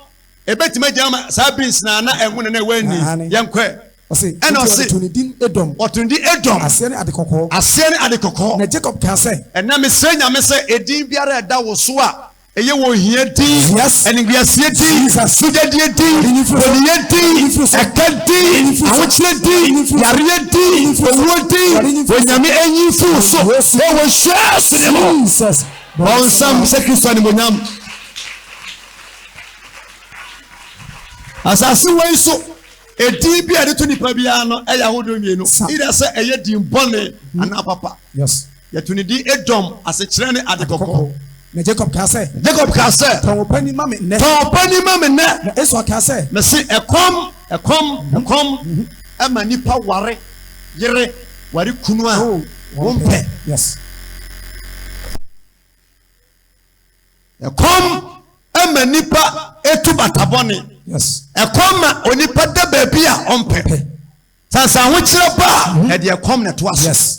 ebetumi agyina ma saa beans na na ɛho na na ɛwɔ ani. Aane. Yɛnkɔɛ. Ɔse, Ɛna enti ɔse. wɔto ne din Edom. Wɔto ne din Edom. Aseɛ ne ade kɔkɔɔ. Aseɛ ne ade kɔkɔɔ. Na Jacob kaa sɛ. Ɛna mesrɛ Nyame sɛ edin biara a ɛda wo so a. Ɛyɛ wɔ ohia din, animguaseɛ din, mogyadeɛ din, boniyɛ din, ɛka din, ahokyerɛ din, yareɛ din, owuo din, Onyame enyi fi wo so, ɛyɛ wɔ Yesu din mu. Bɔnsam sɛ Kristo animuonyam. Asase wei so edin bi a yɛde to nipa biara no ɛyɛ ahodoɔ mmienu, either sɛ ɛyɛ din bɔne anaa papa. Yes. Yɛto ne din Edom, asekyerɛ ne Ade Kɔkɔɔ. Na Jacob kaa sɛ. Na Jacob kaa sɛ. Tɔn wo panin ma me nnɛ. Tɔn wo panin ma me nnɛ. Na Esau kaa sɛ. Mese ɛkɔm, ɛkɔm, ɛkɔm ma nnipa ware yere, ware kunu a wompɛ. Yes. Ɛkɔm ma nnipa etu bata bɔne. Yes. Ɛkɔm ma onipa da baabi a ɔmpɛ. Sansan ho kyerɛ ba a ɛde ɛkɔm na ɛto aso. Yes.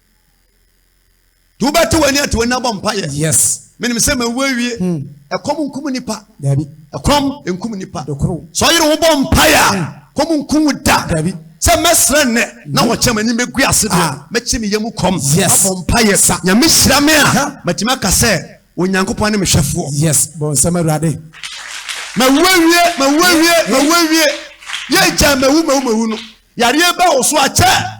nti wobɛte w'ani ate w'ani abɔ mpaeɛ yes menim sɛ mawu awie hmm. ɛkɔm nkum nipa dabi ɛkɔm nkum nipa sɛ ɔyere wo bɔ mpaeɛ a hmm. kɔm nkum wo da dabi sɛ mɛsrɛ nnɛ na hmm. wɔkyɛ m'ani mɛgu ase deɛ ah. mɛkye me yam kɔm abɔ mpaeɛ sa nyame hyira me a matumi aka sɛ onyankopɔn ne mehwɛfoɔ yes bɔ nsɛm awurade mawu awie mawu awie mawu awie yɛgya mawu mawu mawu no yareɛ bɛ wo so akyɛ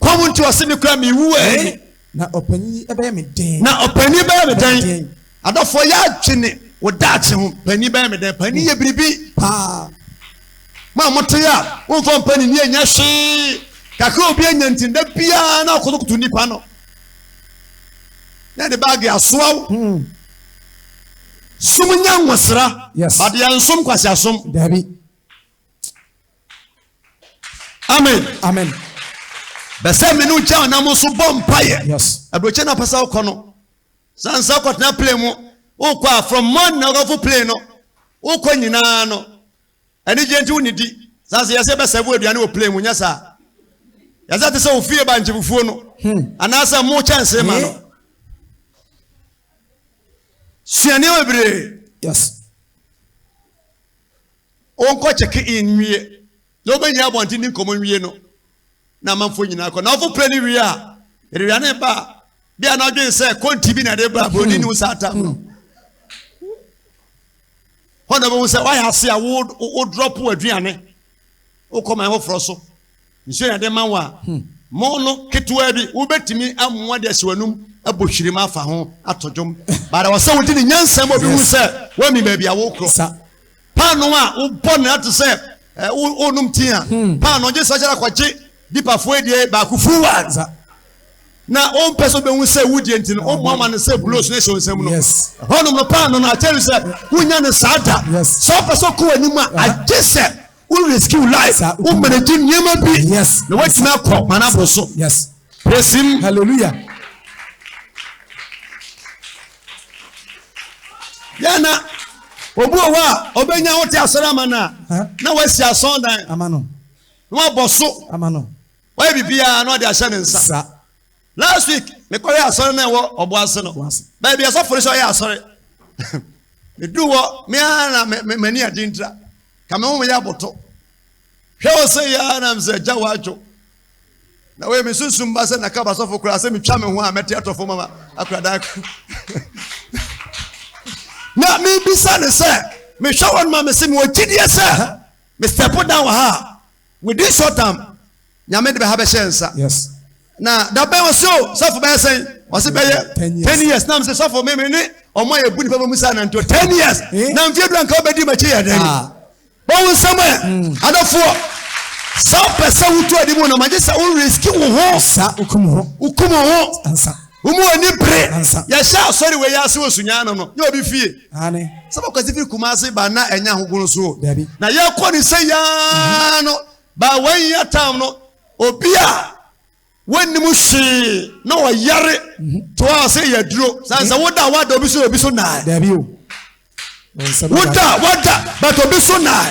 Kɔ mu nti ɔse me kura me wu ɛɛ. Eh, na ɔpanyin yi ɛbɛyɛ me dɛn. Na ɔpanyin bɛyɛ me dɛn. Adɔfoɔ yɛ adwene wɔ daakye ho. Panyin bɛyɛ me dɛn. Panyin yɛ biribi paa. Mo a mote a womfa mpaninni ɛnyɛ hwee. Kakra obi anya nti da biara na ɔkotokoto nipa no. Na ɛde baage asoa wo. Hmm. Sum nya nwosra. Yes. Badeɛ nsom kwasi asom. Dabi. amen amen bɛsɛ me no gya ɔnam so bɔ mpaeɛ aburokyi na pɛsɛ wokɔ no sansa kɔtena plane mu wokɔ a from morning na wokɔfo plane no wokɔ nyinaa no anigye nti wonidi sansa yɛsɛ bɛsɛ wo aduane wɔ plane mu nyɛ saa yɛsɛ te sɛ wofie ba nkyefufuo no hmm. anaasɛ mo kyɛnse ma no eh? sua nneɛma bebree yes Onkɔ check in nwie na obenyia abɔnten ne nkɔmmɔ nwie no na amanfoɔ nyinaa kɔ. Na ɔfo pere no wie a, yɛdewia ne ba a, bia na ɔdwen sɛ konti bi na ɛde ba, buroni ne wo saa tam no. Hɔ na ɔbɛhu sɛ woayɛ ase a wo drop w'aduane wokɔ man foforɔ so. Nsuo na yɛde ma wo a, mo no ketewa bi, wobɛtumi amoa de asi w'anum abɔ hwirim afa ho ato dwom. But ɛwɔ sɛ wode ne nyansa ma obi hu sɛ woami baabi a wokorɔ. Sa. Paano a wobɔ no ate sɛ eh, wo- wonom tea a, paano gye sɛ ɔkyɛre akɔgye dipafoɔ adie baako fuwa. Sa. Na wompɛ sɛ wobɛhu sɛ wodie nti no, womoa ma no sɛ bulos no hyɛ wo nsam no. Yes. Ɛhɔnom no paano no akyɛre sɛ wonya no saa da. Yes. Sɛ wopɛ sɛ ɔkɔ w'anim a, agye sɛ Wo rescue life. Wo manage nneɛma bi. Yes. Na watumi akɔ manabo so. Yes. Praise him. Hallelujah. Yɛn na obi wɔ hɔ a ɔbɛnya wote asɔre ama no a na wasi asɔn dan. Ama no. Na wabɔ so. Ama no. Wayɛ biribiara na ɔde ahyɛ ne nsa. Sa. Last week me kɔ yɛ asɔre na ɛwɔ ɔbo ase no. Baabi asɔfo no sɛ ɔyɛ asɔre. Me duru hɔ me ara na me me m'ani adi ntira. Ka me ho me yɛ aboto. Hwɛ wɔ sɛ yɛ ara na me sɛ gya wadwo. Na wei me sunsun ba sɛ naka basɔfo koraa sɛ metwa me ho a mɛte atɔ fam ama akoradan. Na me bisa ne sɛ mehwɛ wɔn ma me se me wɔ gyidie sɛ me step down wɔ ha a Within short term, Nyame de bɛha bɛhyɛ nsa. Yes. Na dabɛn ɔse o sɔfo bɛyɛ sɛn ɔse bɛyɛ ten years na mese sɔfo me me ne ɔmo a yɛbu nipa bɛmu saa nanto ten years eh? na mfeɛ dura nka wobɛdi makyi yɛ dɛn ah. bɔwo nsɛm ɛ hmm. adɔfoɔ sɛ wopɛ sɛ wotu adi mu no magye sɛ wo riski wo ho wokum ho wokum ho womu ani bere yɛhyɛ asɔre wei ase wɔ sunyaa no no nyɛ obi fie Aane. Sɛ bɛkɔ si firi Kumasi ba na ɛnyɛ ahogono so o. Dabi. Na yɛkɔ ne sɛ yaa no ba wɔn yɛ tam no obi a wɔnnim hwee na ɔyare mhm. to a sɛ yɛ duro san sɛ woda wada obi so obi so naa. Dabi o. Woda wada but obi so naa.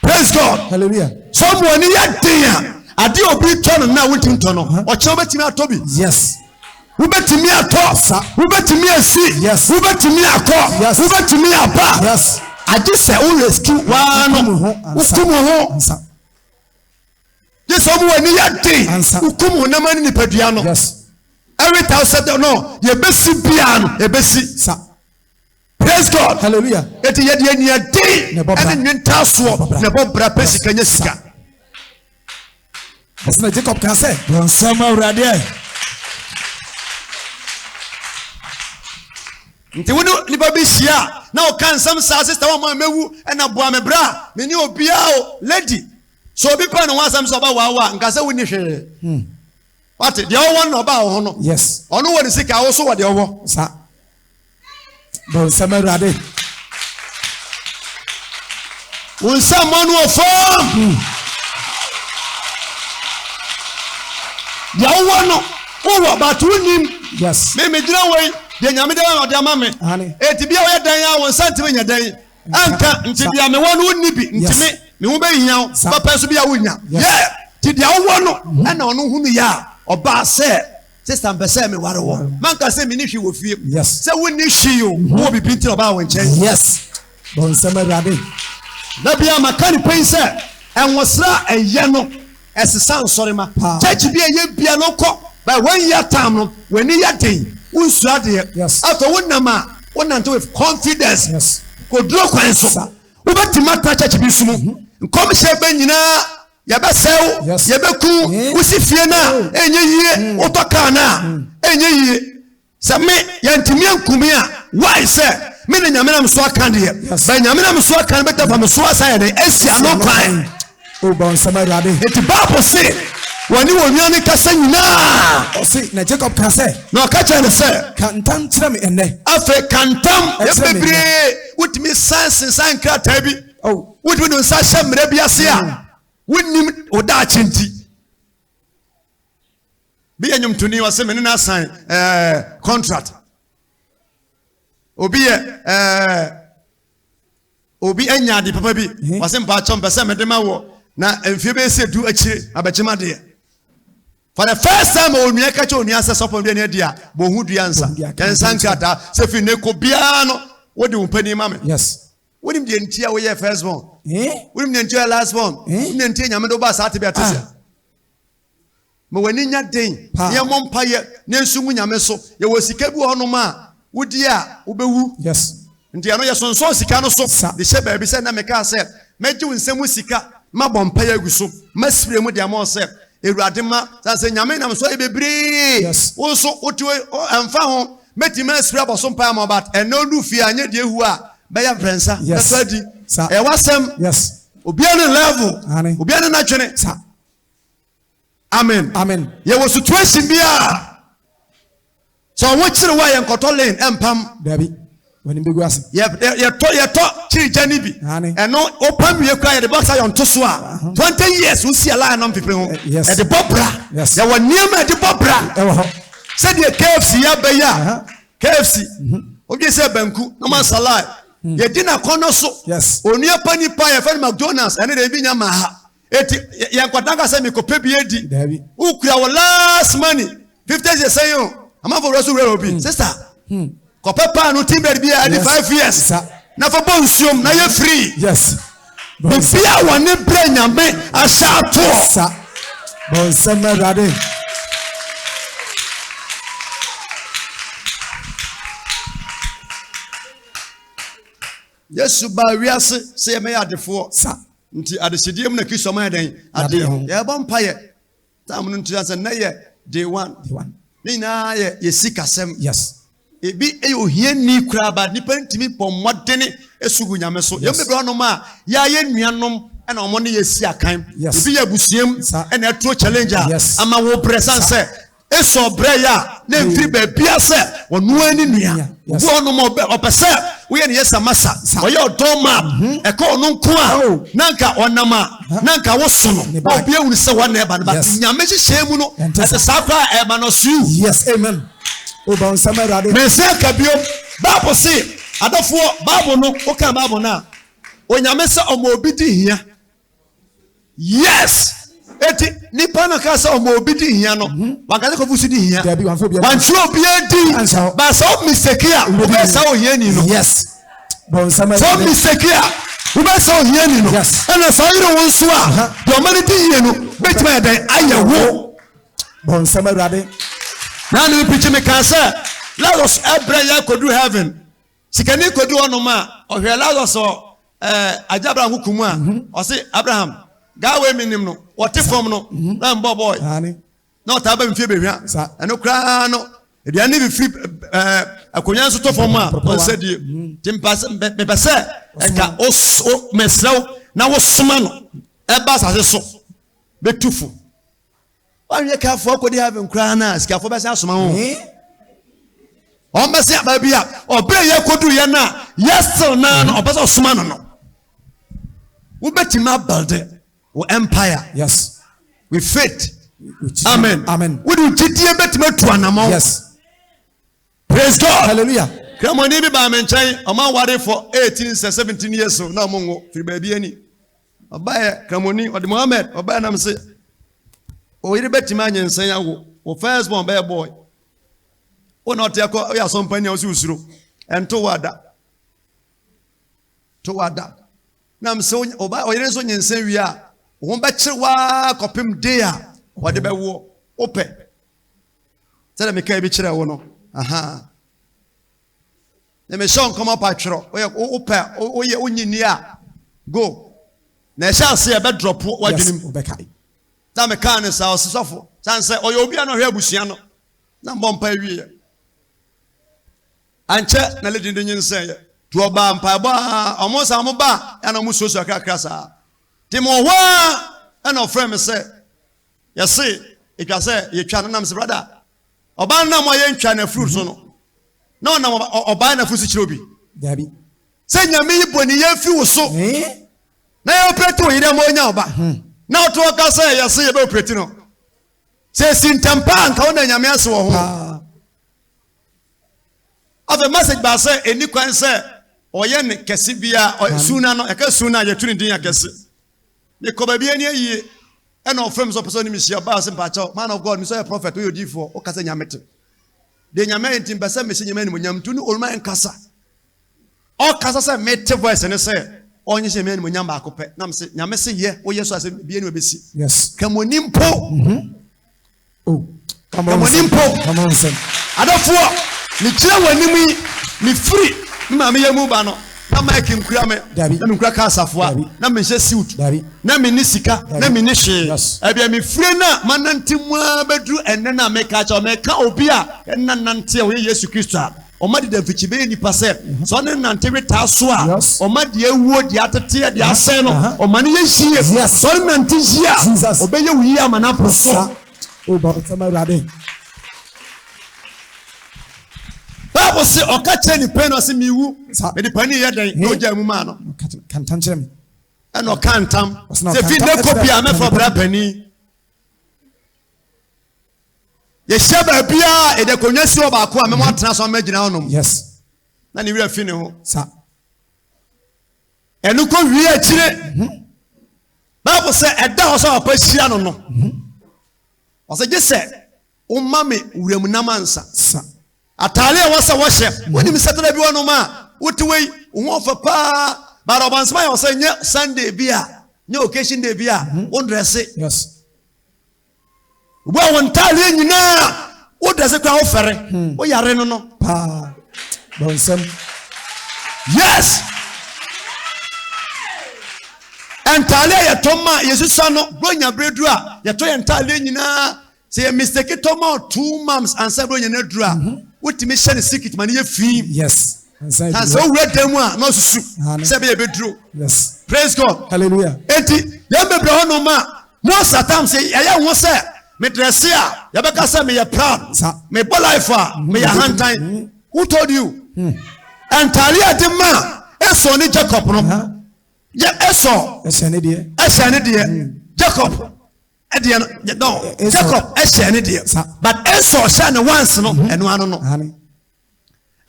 Praise God. Hallelujah. Sọ mu ani yɛ den a ade obi tɔ no na wontumi tɔ no ɔkyerɛ wobɛtumi atɔ bi. Yes. Wobɛtumi atɔ. Wobɛtumi asi. Wobɛtumi akɔ. Wobɛtumi aba. Agye sɛ wo rescue waa no. Wokum wo ho. Gye sɛ ɔmo w'ani yɛ den. Wokum honam ne nipadua no. Every thousand no yɛbɛsi biara no ɛbɛsi. Praise God. Hallelujah. Eti yɛ deɛ nia den ɛne nwe ntaasoɔ na ɛbɔ bra pɛ sika nyɛ sika. Ɛsina Jacob kan sɛ. Bɔnsɛm awuradeɛ. Nti wo ne nipa bi hyia na ɔka nsɛm saa sista wɔn a mɛwu ɛna boa me bra me ne obiara o lady so obi pɛ ne ho asɛm sɛ ɔba waawa nka sɛ wo ni hwee. Hmm. Wate deɛ ɔwɔ no na ɔba wɔ ho no. Yes. Ɔno wɔ ne sika awo so wɔ deɛ ɔwɔ. Saa. Bonsam Awurade. Wo nsa mmɔ no wɔ fam. Hmm. Deɛ wowɔ no wowɔ bato wonim. Yes. Me megyina wɔ yi deɛ nyame dɛ ɔde ama me. Eti bi a wɔyɛ dan a wɔn nsa ntumi nyɛ dan. Anka nti deɛ mewɔ no wonni bi ntumi ne ho bɛhia wo bɛpɛ so bi a wonya. Yɛ ti deɛ wowɔ no ɛna ɔno hunu yɛ a ɔbaa sɛ Sista mpɛ sɛ me ware wɔ. Mm. Manka sɛ menni hwee wɔ fie. Yes. Sɛ wonni hwee o. Mm-hmm. Wɔ bibi nti na ɔbaa wɔn nkyɛn. Yes. Bɔ nsɛm awurade. Na bia maka ne pɛn sɛ ɛnwosra ɛyɛ no ɛsesa nsɔrema. Church bi ɛyɛ bia no kɔ. But one year time no w'ani yɛ den. Wonsu adeɛ. Yes. Afɛ wonam a wonante with confidence. Yes. Koduro kwan so. Wobɛtumi atra church bi so mu. Mm-hmm. Nkɔmhyɛ bɛ nyinaa. Yɛbɛsɛe wo, yɛbɛku wo, wosi fie no a, ɛnyɛ yie, wotɔ kaa no a, ɛnyɛ yie. Sɛ me, yɛntumi anku me a, why sɛ me ne Nyame nam so aka deɛ. Bɛ Nyame nam so aka no bɛtɛ fa me so asa yɛ dɛn, asi ano kwan. Eti Bible se, wɔne wɔn nua no kasa nyinaa. Ɔse, na Jacob ka sɛ. Na ɔka kyerɛ no sɛ. Ka ntam kyerɛ me ɛnnɛ. Afei ka ntam, yɛ bebree, wotumi san sensan nkrataa bi. Wode wo nsa hyɛ mmerɛ bi ase a mm. wonnim wo daakye nti bi yɛ nnwomtoni ɔse me ne no asan eh, contract obi yɛ eh, obi anya ade papa bi mhm. ɔse mpaakyɛ mpɛ sɛ mede ma wɔ na mfie bɛyɛ sɛ du akyire abɛkyema deɛ for the first time onua ka kyɛ onua sɛ sɔpɔ bi ani adi a bɔ ho dua nsa yɛn nsa nkrataa sɛ fi ne ko biara no wode wo panin ma me yes Wonim deɛ nti a woyɛ first born? Wonim deɛ nti a woyɛ last born? Wonim deɛ nti a Nyame de wobaa saa tebea te sɛ? Ma w'ani nya den, na yɛmmɔ mpaeɛ, na yɛnsu ngu Nyame so. Yɛwɔ sika bi wɔ hɔnom a wodi a wobɛwu. Yes. Nti ɛno yɛsonsɔn sika no so de hyɛ baabi sɛ na mekaa sɛ mɛgye wo nsam sika, mabɔ mpaeɛ agu so, masrɛ mu de ama wo sɛ Awurade ma sɛ sɛ nyame nam so yɛ bebree wo nso wote ɛmfa ho mɛtumi asiri abɔso mpae ama but ɛnɛ ɔdu fie a nyɛ deɛ hu a bɛyɛ mprɛnsa bɛtɔ adi ɛwɔ asɛm obia ne level obia ne natwene amen yɛwɔ situation bi a Sɛ ɔwo kyere wo a yɛn kɔtɔ lane ɛmpam. Dabi w'anim bɛgu ase. Yɛtɔ yɛtɔ kyiri gya no bi. Aane. Ɛno wopam wie koraa yɛde bɔ sayɔ nto so a. Ahaa. Twenty years wo si a line nom pepere ho. Yes. Ɛde bɔ bra. Yes. Yɛwɔ nneɛma a ɛde bɔ bra. Ɛwɔ hɔ. Sɛdeɛ KFC yɛ aba yi a. Ahaa. KFC. Mhm. Wodwen sɛ banku na ɔma nsa line. Hmm. Yɛdi n'akɔnɔ so. Yes. Onua pa nipa yɛfɛ no McDonald's ɛne deɛ ebi nya maa ha. Eti yɛ nkwata nka sɛ mekɔpɛ bi adi. Dabi. Wokura wo last money. Fifty years sɛn o. Amanfo wura so wura obi. Hmm. Sista. Hmm. Kɔpɛ paano tin bed bi a ɛde five years. Sa. Na fa bɔ nsuom na yɛ hmm. free. Yes. Bibi a wɔne brɛ nyame ahyɛ atoɔ. Sa. Bɔnsɛm awurade. Yesu baa wiase sɛ yɛmɛyɛ adefoɔ. Sa. Nti adehyedeɛ mu na Kristo ma yɛ dɛn? Adeɛ ho. Yɛbɔ mpa yɛ. Tam no nti sɛ nnɛ yɛ day one. Day one. Ne nyinaa yɛ yɛ sikasɛm. Yes. Ebi yɛ ohia ni koraa ba nipa ntumi bɔ mmɔdene esu gu nyame so. Yɛn bebree ɔnom a yɛayɛ nuanom ɛna wɔn ne yɛ si akan. Yes. Ebi yɛ abusuam ɛna ɛturo challenge a. Yes. Ama wo brɛ san sɛ. Esau brɛe a na ɛmfiri baabiara sɛ ɔno ara ne nua. Obi wɔ hɔnom a ɔpɛ sɛ woyɛ no yɛsamasa. Ɔyɛ ɔdɔ ma a ɛka ɔno nko a na anka ɔnam a na anka woso no ma obi ahunu sɛ hɔ na ɛreba no. But Nyame nhyehyɛe mu no, ɛte saa koraa a ɛreba no so. Yes, amen. Wobɔ nsɛm Awurade. Me nsa ka bio. Bible se, adɔfoɔ, Bible no, woka Bible no a, Onyame sɛ ɔma obi di hia. yes eti nipa na kaa sɛ ɔmo obi di hia no mhm. wankasa kɔfu so di hia wankyerɛ obiara di baasa o mistake a wobɛ sa ohia ni no sɛ o mistake a wobɛ sa ohia ni no ɛna saa yere wo nso a deɛ ɔma no di yie no bɛtumi ayɛ dɛn ayɛ wo bɔnsɛm awurade na ne pikyi me kaa sɛ lazarus ɛbrɛ yɛ akɔduru heaven Sikani kɔdu hɔnom a, ɔhwɛɛ Lazaro sɛ Agya Abraham ho ku mu a, mhm. ɔse, Abraham, gaa wei menim no, wɔte fam no, mhm. na mbɔbɔe. Na ɔtaa ba mfie bɛhwia. Ɛno koraa no, aduane ne bɛfiri akonnwa nso tɔ fam a, ɔnsɛ die. Mhm. Nti mepɛ sɛ ɛka mesrɛ wo na wosoma no ɛba asase so bɛtu fo. Wanyɛ careful akɔdi heaven koraa no a sikafoɔ bɛsan asoma ho. Wɔn bɛsɛ aba bi a ɔbɛn yɛ kɔdu yɛ no a yɛ still naa no ɔbɛsɛ ɔsoma no no. Wobɛtumi abalde wo empire. Yes. With faith. Amen. Amen. Wode gyidie bɛtumi atu anamɔ. Yes. praise god hallelujah kramoni bi baa me nkyɛn ɔma awarefo 18 sɛ 17 years so na ɔmo nwo firi baabi ani ɔbaeɛ kramoni ɔde mohammed ɔbaeɛ nam se ɔyere bɛtumi anyɛ nsɛn awo wo first born bɛyɛ boy wo na ɔte akɔ ɔyɛ asɔmpani a ɔsɛ osuro ɛnto wo ada to wo ada nam se ɔba ɔyere nso nyɛ nsɛn wie a wɔn bɛkyere waa kɔpem de a wɔde bɛwoɔ wopɛ sɛdeɛ mekae bi kyerɛ wo no aha na mehyɛ nkɔm apa twerɛ woyɛ wopɛ woyɛ wonyi ni a go na ɛhyɛ ase a ɛbɛdrɔpo wadwene mu na mekaa ne saa ɔse sɔfo sane sɛ ɔyɛ obi a na ɔhwɛ abusua no na mbɔ mpa awieɛ ankyɛ na lady de nye nsɛeɛ nti ɔbaa mpaebɔ a ɔmo sa ɔmo ba a ɛna ɔmo suasua kakra saa nti mo hɔ a ɛna ɔfrɛ me sɛ Yɛse etwa sɛ yɛtwa no nam sɛ brada ɔbaa no nam a yɛntwa na furu so no na ɔnam ɔbaa na furu so kyerɛ obi. Dabi. Sɛ nyame yi bɔ ne yɛ fi wo so na yɛ operate wo yere ma ɔnya ɔba hmm. na ɔto ɔka sɛ yɛse yɛbɛ operate no sɛ esi ntɛm paa nka wo na nyame ase wɔ ho afei message baa sɛ ɛni kwan sɛ ɔyɛ ne kɛse bia suna no ɛka suna yɛtu ne din akɛse mekɔ baabi ani ayie ɛna ɔfrɛ me sɛ ɔpɛ sɛ ɔne mehyia baa sɛ mpaakyɛw man of god me sɛ ɔyɛ prɔfɛt woyɛ odiifoɔ woka sɛ nyame te deɛ nyame ayɛ nti mpɛ sɛ mehyɛ nyame animonyam nti ne ɔluma nkasa ɔkasa sɛ mete voice ne sɛ ɔnyɛ hyɛ nyame animonyam baako pɛ nam se nyame se yɛ woyɛ so asɛ bia ne wabɛsi yes. ka mu ani mpo mm -hmm. Oh, come on, come on, come on, son. Adɔfoɔ, mekyerɛ wɔn anim yi, mefiri me maame yɛ mu ba no na mike nkura me na menkura ka asafoa na menhyɛ suit na menni sika na menni hwee ɛbia mefire no a manante mu a bɛduru ɛnɛ no a meka kyɛ meka obi a ɛna nante a ɔyɛ yesu kristo a Ɔma de da mfikyi bɛyɛ nipa sɛ sɛ ɔne no nante we taa so a ɔma deɛ awuo deɛ ateteɛ deɛ asɛe no ɔma no yɛ yie sɛ ɔne nante yie a ɔbɛyɛ wo yie ama no apo so. Bible se ɔka kyerɛ ne pɛn no se mewu mede pani yɛ dɛn na ɔgya mu maa no ɛna ɔka ntam sɛ fi nnɛ kɔ bia mɛfa ɔbra pani yɛhyia baabi a yɛde akonnwa si hɔ baako a mɛmo atena so amɛgyina hɔnom yes na ne werɛ fi ne ho sa ɛno kɔ wie akyire mhm. bible sɛ ɛda hɔ sɛ papa hyia no no mhm. ɔsɛ gye sɛ woma me wuram nam ansa sa ataare a wɔsɛ wɔhyɛ mhm. wonim sɛtena bi wɔnom a wote wei wo ho ɔfɛ paa baada ɔbansoma yɛ ɔsɛ nyɛ sunday bi a nyɛ occasion day bi a wondrɛse yes Wobɔ wo ntaareɛ nyinaa wo dɛse koraa wofɛre hmm. wo yare no no paa bɔnsɛm yes ntaareɛ a yɛtɔ ma yɛsusa no bronya berɛ duru a yɛtɔ yɛ ntaareɛ nyinaa sɛ yɛ mistake tɔ ma two months ansa bronya no aduru a mhm. wotumi hyɛ no sikit ma no yɛ fii yes na sɛ wowura dan mu a na ɔsusu sɛ bɛyɛ bɛduro praise god hallelujah enti yɛn bebree hɔ nom a most of times yɛyɛ ho sɛ medrɛse a yɛbɛka sɛ meyɛ proud mebɔ life a mm-hmm. meyɛ ahantan mm-hmm. who told you hmm. ntaare a de ma esɔ ne jacob no yɛ esɔ ɛhyɛ ne deɛ ɛhyɛ ne deɛ hmm. jacob ɛdeɛ no no jacob ɛhyɛ ne deɛ but esɔ hyɛ ne once no ɛno ano no.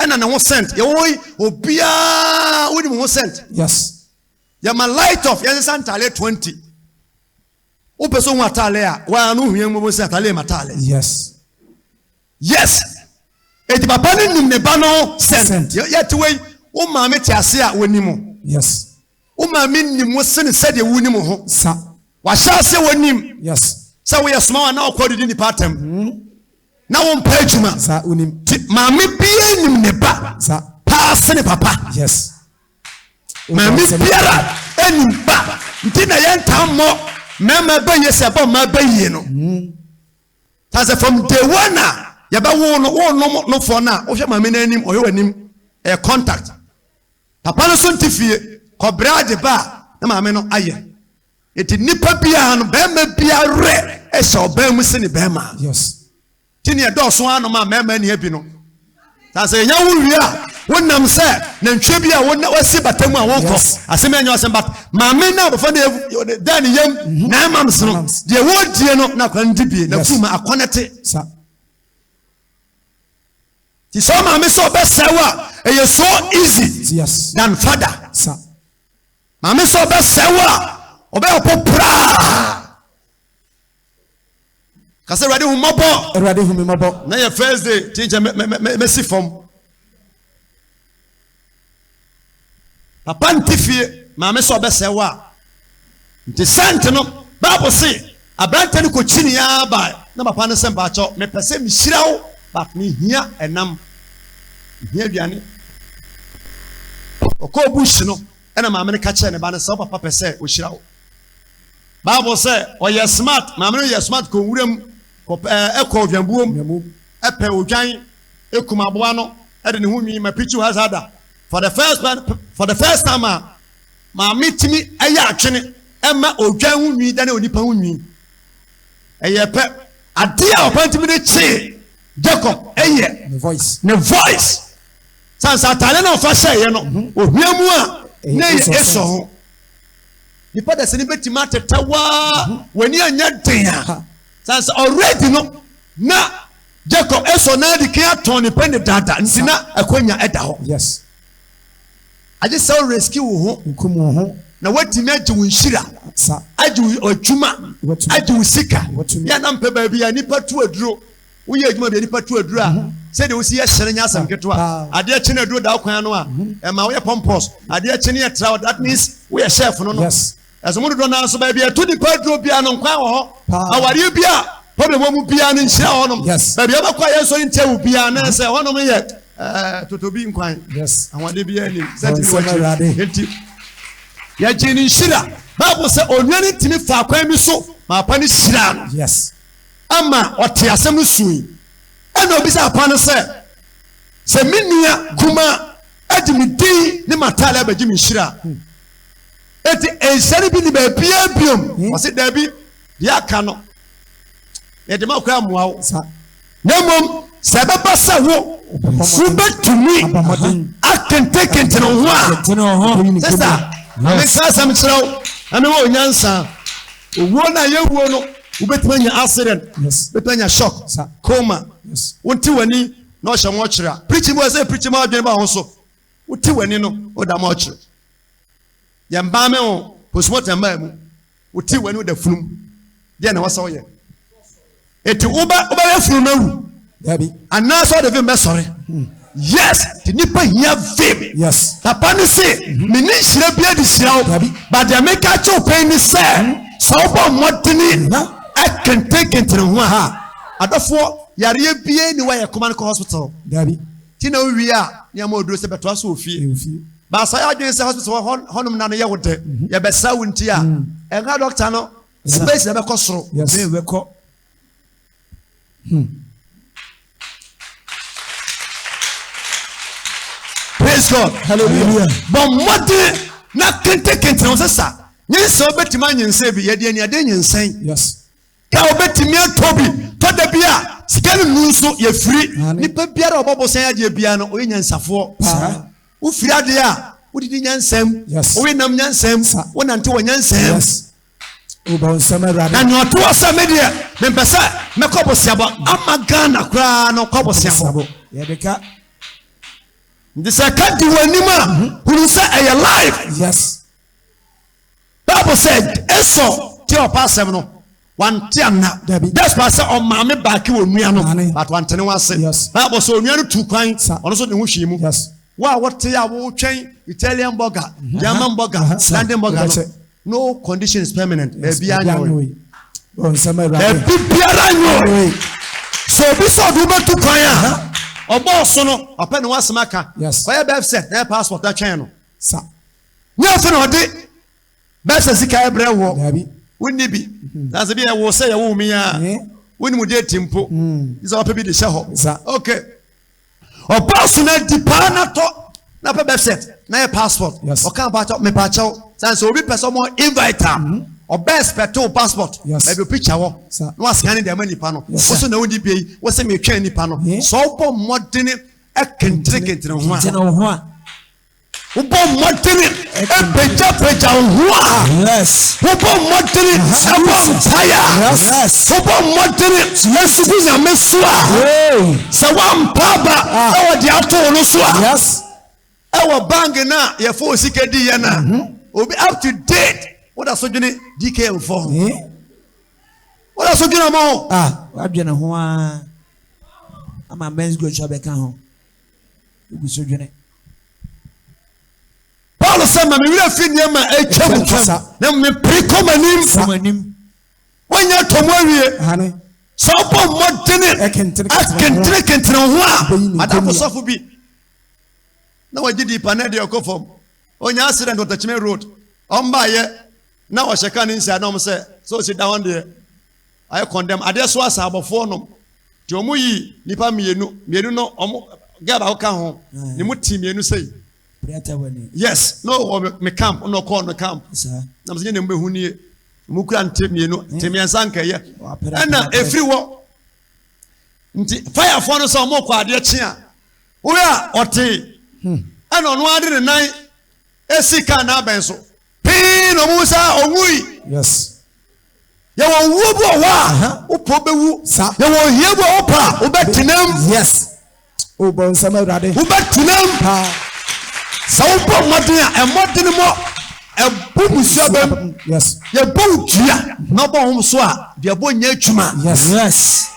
ɛna ne ho sent yɛwɔ hɔ yi obiara wode mu ho sent yes yɛma light off yɛnsesa ntaale 20 wopɛ sɛ hu ataale a waa no hia mmɔbɔ sɛ ataale ma taale yes yes eti papa no nim ne ba no sent yɛte wei wo maame te ase a wɔnim yes Wo maame nim wo sene sɛdeɛ wonim wo ho. Sa. Wahyɛ aseɛ wɔ nim. Yes. Sɛ woyɛ soma wa na ɔkɔ didi nnipa atɛm. Mm. Na wo mpɛ adwuma. Sa wonim. Ti maame bia nim ne ba. Sa. Paa sene papa. Yes. Maame biara nim ba. Nti na yɛn taa mmɔ mmarima bɛ yie sɛ ɛbɔ mmaa bɛ yie no. Mm. Ta sɛ from day one na yɛbɛ wo no wo nom no fɔ na wohwɛ maame n'anim ɔhwɛ w'anim ɛyɛ contact. Papa no nso nte fie. Kɔbrɛ agye ba a na maame no ayɛ. Enti nnipa biara no, barima biara werɛ hyɛ ɔbaa mu sene barima. Nti nea ɛdɔɔso ara no ma mmarima nni abi no. Na sɛ yɛnya wo wie a, wonam sɛ nantwie bi a wasi bata mu a wokɔ. Asɛm ɛnyɛ ɔsɛm but maame na abɔfra no da ne yam nine months no deɛ wɔredie no na akwadaa no di bie na kuma akɔnɛte. Ti sɛ ɔmaame sɛ ɔbɛsɛe wo a ɛyɛ so easy than father. Maame sɛ ɔbɛsɛe wo a ɔbɛyɛ ɔpo praa. Kasa awurade hu mmɔbɔ. Awurade hu mi mmɔbɔ. Na yɛ first day ti nkyɛn mɛsi fam. Papa nte fie, maame sɛ ɔbɛsɛe wo a. Nti sɛnt no, Bible se aberante no kɔkyinii ara bae na papa no se mpakyɛw mepɛ sɛ mehyira wo but mehia ɛnam, mehia aduane. Ɔkɔɔ bush no ɛna maame no ka kyerɛɛ ne ba no sɛ wo papa pɛ sɛ ɔhyira wo. Bible sɛ ɔyɛ smart, maame no yɛ smart kɔ nwura mu kɔ ɛkɔ odwanbuo mu ɛpɛ odwan. kum aboa no de ne ho nwi ma Pichu Hazada for the first time for the first time a maame tumi yɛ atwene ɛma odwan ho nwi dane onipa ho nwi ɛyɛ pɛ adeɛ a ɔpɛ ntumi de kyee Jacob ɛyɛ ne voice ne voice sansa ataade na ɔfa hyɛeɛ no mhm. ohia mu a na ɛyɛ esɔ ho nipa dɛsɛ ne bɛtumi atɛtɛ waa mhm. w'ani anyɛ den a sansa already no na Jacob esɔ n'adi kan atɔn ne pɛ ne daadaa nti na akwanya da hɔ. Yes. Agye sɛ wo rescue wo ho. Nkum wo ho. Na watumi agye wo nhyira. Sa. Agye wo adwuma. Watumi. Agye wo sika. Watumi. Yɛ na mpɛ baabi a nipa tu aduro. Woyɛ adwuma baabi a nipa tu aduro a. Sɛ deɛ wosi yɛ hyɛn nyɛ asɛm ketewa. Adeɛ kye na aduro da wo kwan ano a. Ɛma woyɛ pompous. Adeɛ kye ne yɛ tra hɔ that means woyɛ chef no no. Yes. Ɛsɛ mo dodoɔ naa so baabi a ɛto nipa aduro biara no nkwan wɔ hɔ. Awareɛ bi a problem wɔ mu biara no nhyira wɔ hɔnom. Baabi a wobɛkɔ a yɛn nso ntia wo biara na ɛsɛ hɔnom yɛ eh, totobi nkwan. Ahoɔden biara nim sɛ tumi wɔkyi. Enti yɛgye ne nhyira. Bible sɛ onua no ntumi fa kwan bi so ma apa no hyiraa no. Ama ɔte asɛm no sui. Ɛna obi sɛ apa no sɛ sɛ me nua kuma adi me din ne m'ataale abɛgye me nhyira hmm. Enti nhyira no bi nni baabiara biom. Ɔse, Dabi, deɛ aka no, yɛde ma koraa mmoa wo. Sa. Na mmom, sɛ ɛbɛba sɛ wo, wobɛtumi akentenkentene wo ho a, sesa, menka asɛm kyerɛ wo, na mewɔ onyansa. Owuo no a yɛwuo no, wobɛtumi anya accident, wobɛtumi anya shock, coma, wonte w'ani na ɔhyɛ mɔkyerɛ a, preaching bi wɔ sɛ preaching ma adwene ba ho so, wote w'ani no, woda mɔkyerɛ. Yɛn baa me o, postmortem baa mu. Wo ti w'ani da funum. Deɛ na wɔsɛ woyɛ. Eti wobɛ wobɛyɛ funum na wu. Dabi. Anaasɛ ɔde vim bɛsɔre. Hmm. Yes, te nipa hia vim. Yes. Papa ne se, mhm. me ne nhyira bi adi hyira wo. Dabi. Ba deɛ meka kyɛ wo pɛn ni sɛ, mhm. sɛ wobɔ mmɔdene mhm. ɛkentenkentene ho a, adɔfoɔ yareɛ bie ne wɔyɛ kɔma no kɔ hospital. Dabi. Ti na owie a ne ama oduro sɛ bɛtoa so wɔ fie. Baasa yɛ adwene sɛ hospital wɔ hɔnom na no yɛ wo dɛ. Yɛbɛsra wo nti a ɛnka dɔkta no space na ɛbɛkɔ soro. Praise God. Hallelujah. Bɔ mmɔden na kentekente ho sɛ sa nyinsɛn wobɛtumi anyinsɛn bi yɛde aniade nyinsɛn. Yes. Ka obetumi atɔ bi tɔ da bi a sika no nnu nso yɛ firi. Nipa biara a ɔbɔ bosan adeɛ biara no ɔyɛ nyansafoɔ paa. Wofiri adeɛ a wodidi nyansam, wowe nam nyansam, wonante wɔ nyansam. Na nea ɔtoa sɛ me deɛ mempɛ sɛ mɛkɔ boseabɔ ama Ghana koraa no kɔ boseabɔ. Nti sɛ ɛka di wɔ anim a hunu sɛ ɛyɛ live. Bible sɛ Esau tie ɔpa asɛm no wante anna despite sɛ ɔmaame baake wɔ nua no but wante ne ho ase Bible sɛ onua no tu kwan ɔno nso ne ho hwii mu wo a wote a wotwɛn Italian burger German burger London burger no no condition is permanent baabi anyoe baabi biara anyoe sɛ obi sɛ ɔde wobɛtu kwan a ɔbɔɔ so no ɔpɛ ne ho asɛm aka ɔyɛ bɛf sɛ na yɛ passport atwɛn no Nyɛ afei na wɔde bɛhyɛ sika brɛ woɔ. Daabi. Wonni bi. Mhm. Na sɛ bi yɛ wo sɛ yɛ woo me a, Ɛɛ. wonni mu deeti mpo. Mm. Gye sɛ wɔpɛ bi de hyɛ hɔ. Sa. Ok. Ɔbaa so na adi paa na tɔ na pɛ birth cert na yɛ passport. Yes. Ɔka mpakyɛw mepaakyɛw. Sane sɛ obi pɛ sɛ ɔmo invite a, Mhm. ɔbɛ expect wo passport. Yes. Baabi picture wɔ. Sa. Na wascan de ama nipa no. Yes, sir. Woso na wonni bi yi, wose metwɛn nipa no. Yeah. Sɛ ɔbɔ mmɔdene ɛkentere kentere ho a, Gyina wo ho a. Wobɔ mmɔdene pagyapagya wo ho a. Wobɔ mmɔdene bɔ mpaeɛ a. Wobɔ mmɔdene sugu Nyame so a. Sɛ woampa aba ah. na wɔde ato wo no so a. Ɛwɔ bank no a yɛfa wo sika di yɛ no a. Mhm. Obi up to date woda so dwene DKM fɔ ho. Eh? Woda so dwene mo ho. Ah, wadwene ho a. Ama men's go bɛka ho. Wogu so dwene. Paulo sɛ, ma me werɛ fi nneɛma a atwa mu kasa, na mmom mepere kɔ m'anim. Kɔ m'anim. Woanya atɔ mu awie. Hane. Sɛ wobɔ mmɔdene akentenekentene wo ho a, adafo sɔfo bi na wɔgye di pa na ɛde ɔkɔ fam. Ɔnya accident wɔ Takyime road. Ɔmbaayɛ na ɔhyɛ kaa ne nsia dɔm sɛ, sɛ ɔsi da hɔ deɛ, Ayɛ kɔndɛm adeɛ so asaabɔfoɔ nom nti ɔmo yi nipa mienu mienu no ɔmo gɛɛ baako ka ho ne mo ti mienu sei yes no wɔ me camp ɔno ɔkɔɔ no camp na mo sɛ nye ne mo bɛ hu nie ɔmo kura nte mienu te miɛnsa nkɛyɛ ɛna efiri hɔ nti fayafoɔ no sɛ ɔmo kɔ adeɛ kye a woyɛ a ɔte ɛna ɔno ade ne nan esi kaa n'abɛn so pii na ɔmo sɛ ɔwui yes. Yɛwɔ owuo bi wɔ hɔ a wopɛ wobɛwu. Yɛwɔ ohia bi wɔ hɔ pa a wobɛtenam. Yes. Wobɔ nsɛm awurade. Wobɛtenam. Sɛ wobɔ mmɔden a ɛmmɔden mɔ ɛbo musua bɛm. Yes. Yɛbɔ wo dua na ɔbɔ hom so a deɛ ɛbɔ nyɛ adwuma. Yes. Yes.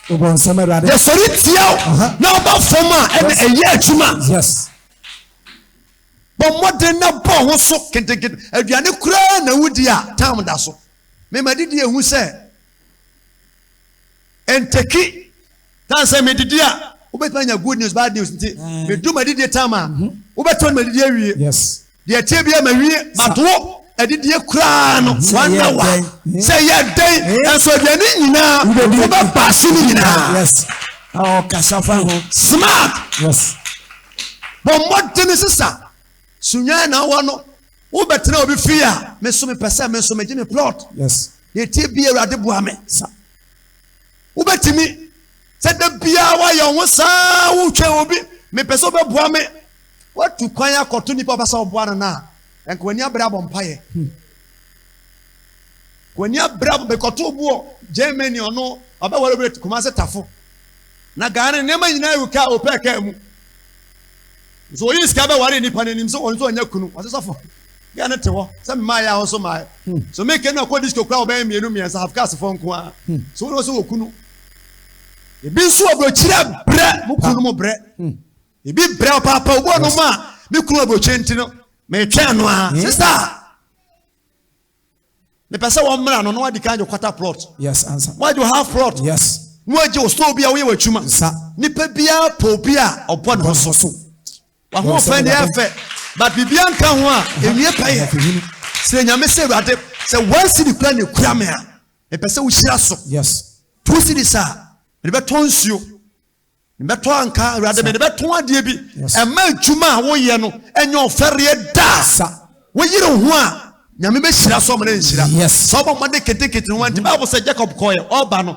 Wobɔ nsɛm awurade. Yɛsɔre tia wo na ɔba fam a ɛna ɛyɛ adwuma. Yes. Bɔ mmɔden na bɔ wo ho so ketekete. Aduane koraa na wudi a, tam da so. Me madidi ehu sɛ ntɛki. Tam sɛ medidi a, wobɛtumi anya good news, bad news nti, mm. medu madidie tam a, mhm. wobɛtɔ no madidie awie. Deɛ ɛteɛ bia mawie, matoɔ adidie koraa no mhm. wana wa. Mhm. Sɛ yɛ dɛn, nanso aduane nyinaa, wobɛba ase no nyinaa. Smart. bɔ mmɔden sesa sunyɛ na wɔ no wobɛtena obi fie a me nso mepɛ sɛ me nso megye me plot yes na ɛtie bi awurade boa me sa wobɛtumi sɛ da biara woayɛ wo saa wotwɛn obi mepɛ sɛ wobɛboa me woatu kwan akɔto nnipa wobɛ sɛ woboa no no a ɛnka w'ani abrɛ abɔ mpayɛ hmm. w'ani abrɛ abɔ bɛkɔto boɔ germany ɔno ɔbɛwɔre bɛ kuma sɛ tafo Na Ghana no nneɛma nyinaa gu kaa ɔpɛɛ kaa mu. Nso ɔyii sika bɛwaree nnipa no anim sɛ ɔno nso ɔnyɛ kunu. Ɔse sɔfo, gɛ no te hɔ sɛ mmaa yɛ a ɔso mmaa. Hmm. So me kenu akɔ disco kura ɔbɛn mmienu mmiɛnsa have cars fɔ nko ara. Hmm. So wɔn nso wɔ kunu. Ebi nso ɔbɔkyerɛ brɛ mo kunu mo brɛ. Hmm. Ebi brɛ ɔpaapa ɔbɔ no mu a me kunu ɔbɔkyerɛ nti no metwɛn no a. Sista. mepɛ sɛ wɔn mmra no na wadi kan de quarter plot yes ansa wadi o half plot yes na wagye o store bi a woyɛ w'adwuma nsa nipa biara pɔ obi a ɔbɔ ne ho so so wahoɔfɛ ne ɛfɛ but biribiara nka ho a ɛwie pɛ yɛ srɛ nyame sɛ awurade sɛ one city kura ne kura me a mepɛ sɛ wohyira so yes two cities a mede bɛtɔ nsuo Mebɛtɔ anka, Awurade, mede bɛtɔn adeɛ bi. Ɛmma adwuma a woyɛ no nyɛ ɔfɛreɛ da. Woyere wo ho a, Nyame bɛhyira so amana nhyira. Sɛ wobɔ mmɔden ketekete no wanti. Bible sɛ Jacob kɔɔyɛ, ɔba no,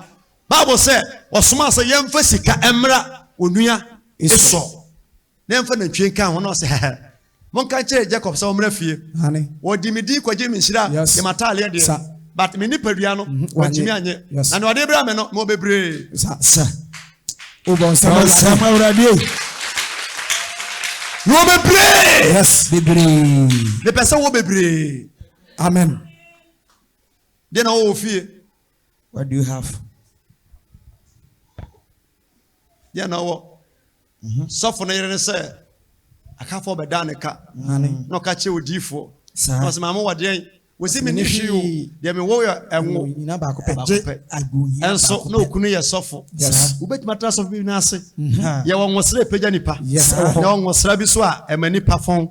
Bible sɛ ɔsomaa sɛ yɛmfa sika mmra onua Esau. na ɛmfa nantwie nka ho, na ɔse, Hɛhɛ, monka nkyerɛ Jacob sɛ ɔmmra fie. Ɔde me din kɔgyee me nhyira a, ne m'ataadeɛ deɛ, but me nipadua no, wantumi annye, na nea ɔde bra me no, mewɔ bebree. Wobɔ nsɛm Awurade o. Wɔ bebree. Yes, bebree. Mepɛ sɛ wɔ bebree. Amen. Deɛ na wɔwɔ fie. What do you have? deɛ na ɔwɔ mhm. sɔfo no yere ne sɛ akafoɔ bɛdaa ne ka na ɔka kyerɛ odiifoɔ ɔsɛ maame wɔ deɛn wɔsi me ne hwee o deɛ mewɔ yɛ ɛnwo baako pɛ ɛnso na okunu yɛ sɔfo wobɛtumi atena sɔfo bi no ase mhm. yɛwɔ nwosra ɛpagya nipa yɛwɔ nwosra bi so a ɛma nipa fɔn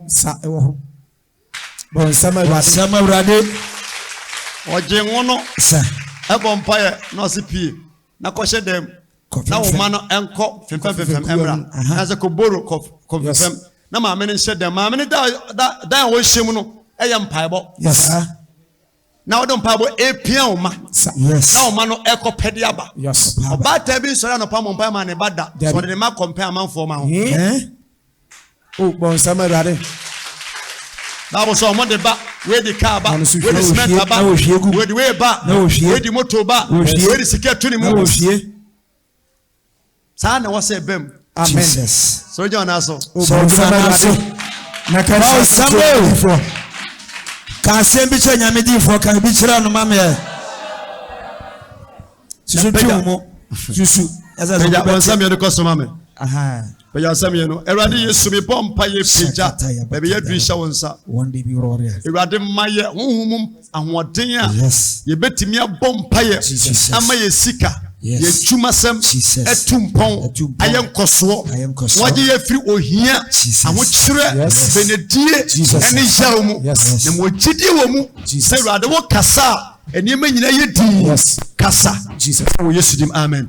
Bonsam Awurade. Bonsam Awurade. Ɔgye ngo no. Sɛ. Ɛbɔ mpaeɛ na ɔse pie na kɔhyɛ dan mu. Na wo ma no ɛnkɔ fimfɛmfimfɛm ɛmra. Na sɛ kɔboro kɔfimfɛm. Na maame no nhyɛ dan. Maame no da da dan a wɔhyɛ mu no ɛyɛ mpaebɔ. Yes. na wɔde mpaebɔ repia wɔn mma na wɔn mma no rekɔ pɛ de aba ɔbaatan bi nsɔre anɔpa mɔ mpae ma ne ba da sɛ ɔde ne ma kɔmpɛn amanfoɔ ma ho o bɔ nsɛm awurade baabu sɛ wɔn de ba wɔadi kaa ba wɔadi cement ba wɔadi wei ba wɔadi moto ba wɔadi sika tu ne mu saa na ɛwɔ sɛ ɛba mu. amen sɛ wogyina ɔna so. sɛ wogyina ɔna so na ka asɛm bi kyerɛ nyamefoɔ ka asɛm bi kyerɛ nyamedifoɔ ka bi kyerɛ no ma meɛ susu twi mu susu ɛsɛ sɛ wobɛte pagya wɔn nsɛm yɛde kɔ so ma me Pagya nsa mmienu. Awurade Yesu, mebɔ mpa yɛ pagya baabi yɛ duru hyɛ wo nsa. Awurade ma yɛ honhom mu ahoɔden a yɛbɛtumi abɔ mpa yɛ ama yɛ sika yɛ adwumasɛm atu mpɔn ayɛ nkɔsoɔ wɔgye yɛ firi ohia ahokyerɛ benedie ɛne yaw mu na ma ɔgyidie wɔ mu sɛ Awurade wo kasa a nneɛma nyinaa yɛ dii kasa wɔ Yesu dim amen.